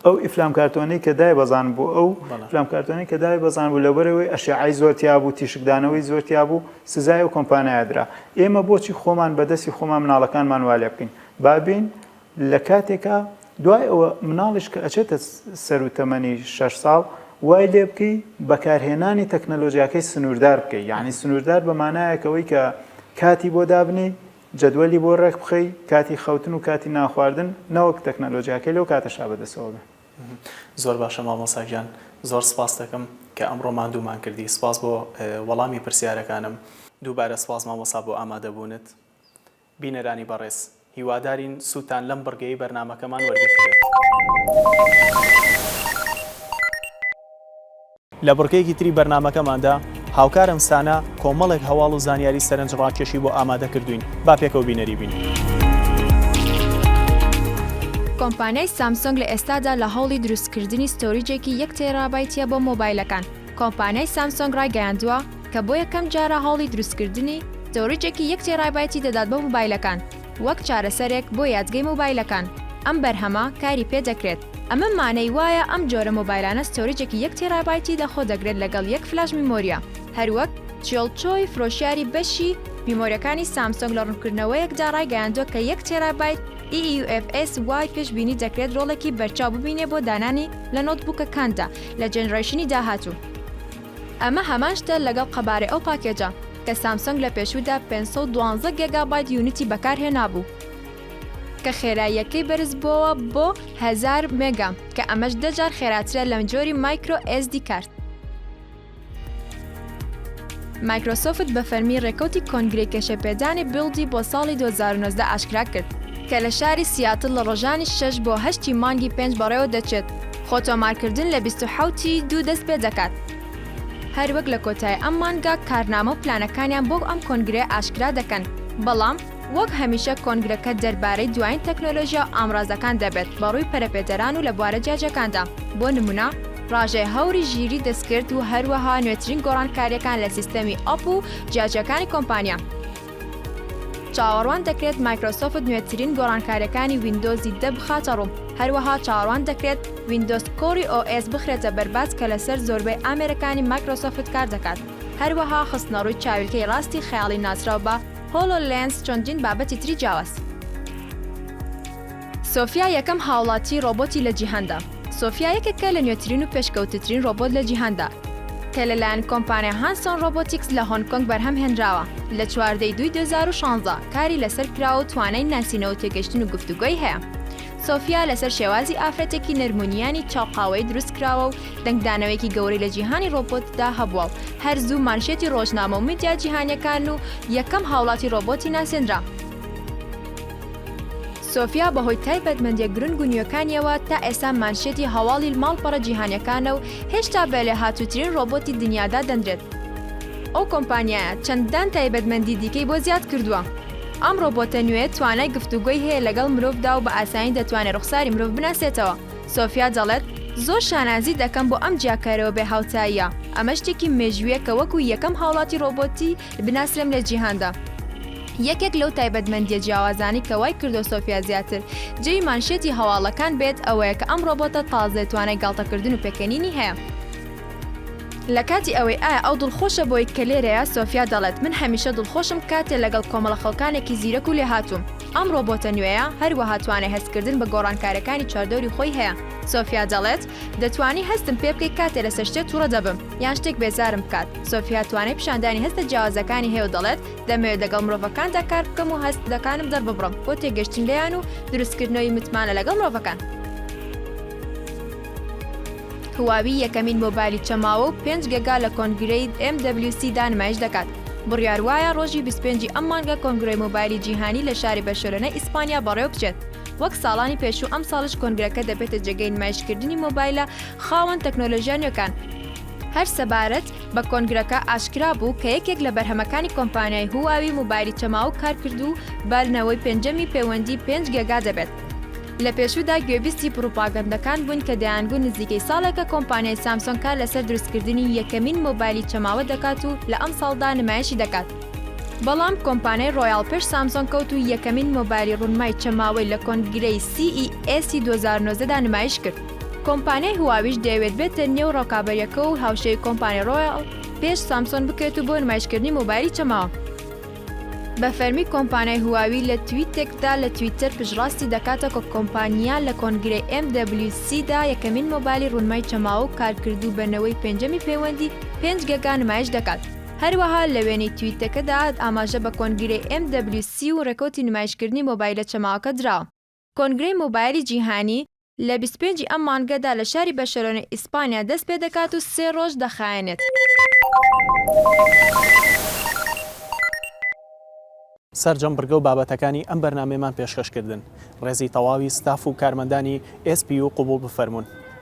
ئەو ئیفلام کارتۆنەی کە دای بەزان بوو ئەو فلام کارتۆنی کە دای بەزان بوو لەبەرەوەی ئەشعی زۆرتیا بوو تیشکدانەوەی زۆرتیا بوو سزای و کۆمپانایدرا ئێمە بۆچی خۆمان بەدەستی خۆمان مناڵەکانمان والێ بکەین بابین لە کاتێکا دوای ئەوە مناڵیش کە ئەچێتە سەر و تەمەنی 6 ساڵ وای لێ بکەی بەکارهێنانی تەکنەلۆژیاکەی سنووردار بکەی یعنی سنووردار بەمانایەکەوەی کە کاتی بۆ دابنی جەدوەلی بۆ ڕێک بخەی کاتی خەوتن و کاتی نانخواردن نەوەک تەکنەلۆجیاکەی لەو کاتە شا بەدەستەوە بێ. زۆر باشە مامۆستا گیان زۆر سپاست دەکەم کە ئەمڕۆ ماندوومان کردی سپاس بۆ وەڵامی پرسیارەکانم دووبارە سپاس مامۆستا بۆ ئامادەبوونت بینەرانی بەڕێز هیوادارین سوودتان لەم بڕگەی بەرنامەکەمان وەرگرتبێت. لە بڕگەیەکی تری بەرنامەکەماندا، هاوکارم سانا کۆمەڵێک هەواڵ و زانیاری سەرنج ڕاکێشی بۆ ئامادە کردووین، با پێکەوە بینەری بین. کۆمپانیای سامسۆنگ لە ئێستادا لە هەوڵی دروستکردنی ستۆریجێکی یەک تێرابایتیە بۆ مۆبایلەکان. کۆمپانیای سامسۆنگ ڕایگەیاندووە کە بۆ یەکەم جارە هەوڵی دروستکردنی ستۆریجێکی یەک تێرابایتی دەدات بۆ مۆبایلەکان وەک چارەسەرێک بۆ یادگەی مۆبایلەکان. ئەم بەرهەمە کاری پێدەکرێت. ئەمە مانای وایە ئەم جۆرە مۆبایلانە ستۆریجێکی یەک تێرابایتی لە خۆ دەگرێت لەگەڵ یەک فلاش میمۆریە هەروەک چیۆڵ چۆی فرۆشیاری بەشی میمۆریەکانی سامسۆنگ لە ڕونکردنەوەیەکدا ڕایگەیاندوە کە یەک تێرابایت EUFS وای پێش بینی دەکرێت ڕۆڵێکی بەرچاو ببینێ بۆ دانانی لە نۆت بوکەکاندا لە جێنرەیشنی داهاتوو. ئەمە هەمان شتە لەگەڵ قەبارەی ئەو پاکێجە کە سامسۆنگ لە پێشوودا پێنج سەد و دوازدە گێگابایت یونیتی بەکار هێنابوو. کە خێراییەکەی بەرز بۆوە بۆ هەزار مێگا کە ئەمەش دە جار خێراترە لەم جۆری مایکرۆ ئێس دی کارت. مایکرۆسۆفت بە فەرمی ڕێکەوتی کۆنگرەی کێشەپێدانی بیڵدی بۆ ساڵی دوو هەزار و نۆزدە ئاشکرا کرد، کە لە شاری سیاتڵ لە ڕۆژانی شەش بۆ هەشت ی مانگی پێنج بەڕێوە دەچێت، خۆ تۆمارکردن لە بیست و حەوت ی دوو دەست پێ دەکات. هەروەک لە کۆتایی ئەم مانگە کارنامە و پلانەکانیان بۆ ئەم کۆنگرەیە ئاشکرا دەکەن، بەڵام. وەک هەمیشە کۆنگرەکە دەربارەی دوایین تەکنۆلۆژیا و ئامرازەکان دەبێت بەڕووی پەرەپێدەران و لە بوارە جیاجیاکاندا، بۆ نمونە، ڕاژەی هەوری ژیری دەستکرد و هەروەها نوێترین گۆڕانکارییەکان لە سیستەمی ئەپ و جیاجیاکانی کۆمپانیا. چاوەڕوان دەکرێت مایکرۆسۆفت نوێترین گۆڕانکارییەکانی ویندۆزی دە بخاتە ڕوو، هەروەها چاوەڕوان دەکرێت ویندۆز کۆری ئۆ ئێس بخرێتە بەرباس کە لەسەر زۆربەی ئامێرەکانی مایکرۆسۆفت کاردەکات، هەروەها خستنەڕووی چاویلکەی ڕاستی خەیاڵی ناسراو بە، هۆلۆ لێنس چەندین بابەتی تری جیاواز. سۆفیا یەکەم هاوڵاتی ڕۆبۆتی لە جیهاندا. سۆفیا یەکێکە لە نوێترین و پێشکەوتترین ڕۆبۆت لە جیهاندا، کە لەلایەن کۆمپانیا هانسۆن ڕۆبۆتیکس لە هۆنگ کۆنگ بەرهەم هێنراوە، لە چواردە ی دووی دوو هەزار و شانزە کاری لەسەر کراوە و توانای ناسینەوە تێگەشتن و گفتوگۆی هەیە. سۆفیا لەسەر شێوازی ئافرەتێکی نەرم و نیانی چاو قاوەیی دروستکراوە و دەنگدانەوەیەکی گەورەی لە جیهانی ڕۆبۆتدا هەبووە و هەر زوو مانشێتی ڕۆژنامە و میدیا جیهانییەکان و یەکەم هاوڵاتی ڕۆبۆتی ناسێنرا. سۆفیا بەهۆی تایبەتمەندییە گرنگ و نوێکانییەوە تا ئێستا مانشێتی هەواڵی ماڵپەڕە جیهانییەکانە و هێشتا بە لێهاتووترین ڕۆبۆتی دنیا دادەنرێت. ئەو کۆمپانیایە چەندان تایبەتمەندی دیکەی بۆ زیاد کردووە. ئەم ڕۆبۆتە نوێ توانای گفتوگۆی هەیە لەگەڵ مرۆڤدا و بە ئاسانی دەتوانێت ڕوخساری مرۆڤ بناسێتەوە. سۆفیا دەڵێت، زۆر شانازی دەکەم بۆ ئەم جیاکارەوە بێ هاوتاییە. ئەمە شتێکی مێژوویە کە وەکو یەکەم هاوڵاتی ڕۆبۆتی بناسرێم لە جیهاندا. یەکێک لەو تایبەتمەندییە جیاوازانەی کە وای کردووە سۆفیا زیاتر جێی مانشێتی هەواڵەکان بێت ئەوەیە کە ئەم ڕۆبۆتە تازەیە توانای گاڵتەکردن و پێکەنینی هەیە. لە کاتی ئەوەی ئایا ئەو دڵخۆشە بۆیت کە لێرەیە، سۆفیا دەڵێت، من هەمیشە دڵخۆشم کاتێ لەگەڵ کۆمەڵە خەڵکانێکی زیرەک و لێهاتووم. ئەم ڕۆبۆتە نوێیە هەروەها توانای هەستکردن بە گۆڕانکارەکانی چواردەوری خۆی هەیە. سۆفیا دەڵێت، دەتوانی هەستم پێ بکەی کاتێ لەسەر شتێ توڕە دەبم یان شتێک بێزارم بکات. سۆفیا توانای پیشاندانی هەستە جیاوازەکانی هەیە و دەڵێت، دەمەوێت لەگەڵ مرۆڤەکاندا کار بکەم و هەستەکانم دەرببڕم بۆ تێگەشتن لێیان و دروستکردنەوەی متمانە لەگەڵ مرۆڤەکان. هواوی یەکەمین مۆبایلی چەماوە و پێنج گەگا لە کۆنگرەی MWC دا نمایش دەکات، بڕیار وایە ڕۆژی بیست و پێنج ی ئەم مانگە کۆنگرەی مۆبایلی جیهانی لە شاری بەرشەلۆنەی ئیسپانیا بەڕێوەبچێت وەک ساڵانی پێشوو ئەمساڵیش کۆنگرەکە دەبێتە جێگەی نمایشکردنی مۆبایلە خاوەن تەکنۆلۆژیا نوێکان. هەر سەبارەت بە کۆنگرەکە ئاشکرا بوو کە یەکێک لە بەرهەمەکانی کۆمپانیای هواوی مۆبایلی چەماوە کارکردوو بە نەوەی پێنجەمی پەیوەندی پێنج گەگا دەبێت. لە پێشوودا گوێبیستی پڕوپاگەندەکان بووین کە دەیانگوت نزیکەی ساڵێکە کۆمپانیای سامسۆنگ کار لەسەر دروستکردنی یەکەمین مۆبایلی چەماوە دەکات و لە ئەمساڵدا نمایشی دەکات، بەڵام کۆمپانیای ڕۆیاڵ پێش سامسۆنگ کەوت و یەکەمین مۆبایلی ڕونمای چەماوەی لە کۆنگرەی CES ی دوو هەزار و نۆزدە دا نمایش کرد. کۆمپانیای هواویش دەیەوێت بێتە نێو ڕکابەرییەکە و هاوشێوەی کۆمپانیای ڕۆیاڵ پێش سامسۆن بکرێت و بۆ نمایشکردنی مۆبایلی چەماوە، بە فەرمی کۆمپانای هواوی لە تویتێکدا لە تویتەر پشتڕاستی دەکاتە کە کۆمپانیا لە کۆنگرەی MWC دا یەکەمین مۆبایلی ڕوونمای چەماوە و کارکردوو بە نەوەی پێنجەمی پەیوەندی 5G گا نمایش دەکات. هەروەها لە وێنەی تویتەکەدا ئاماژە بە کۆنگرەی MWC و ڕێکەوتی نمایشکردنی مۆبایلە چەماوەکە دراوە. کۆنگرەی مۆبایلی جیهانی لە بیست و پێنج ی ئەم مانگەدا لە شاری بەرشەلۆنەی ئیسپانیا دەست پێ دەکات و سێ ڕۆژ دەخایەنێت. سەرجەم بڕگە و بابەتەکانی ئەم بەرنامەیەمان پێشکەش کردن. ڕێزی تەواوی ستاف و کارمەندانی ئێس پی یو قبوڵ بفەرموون.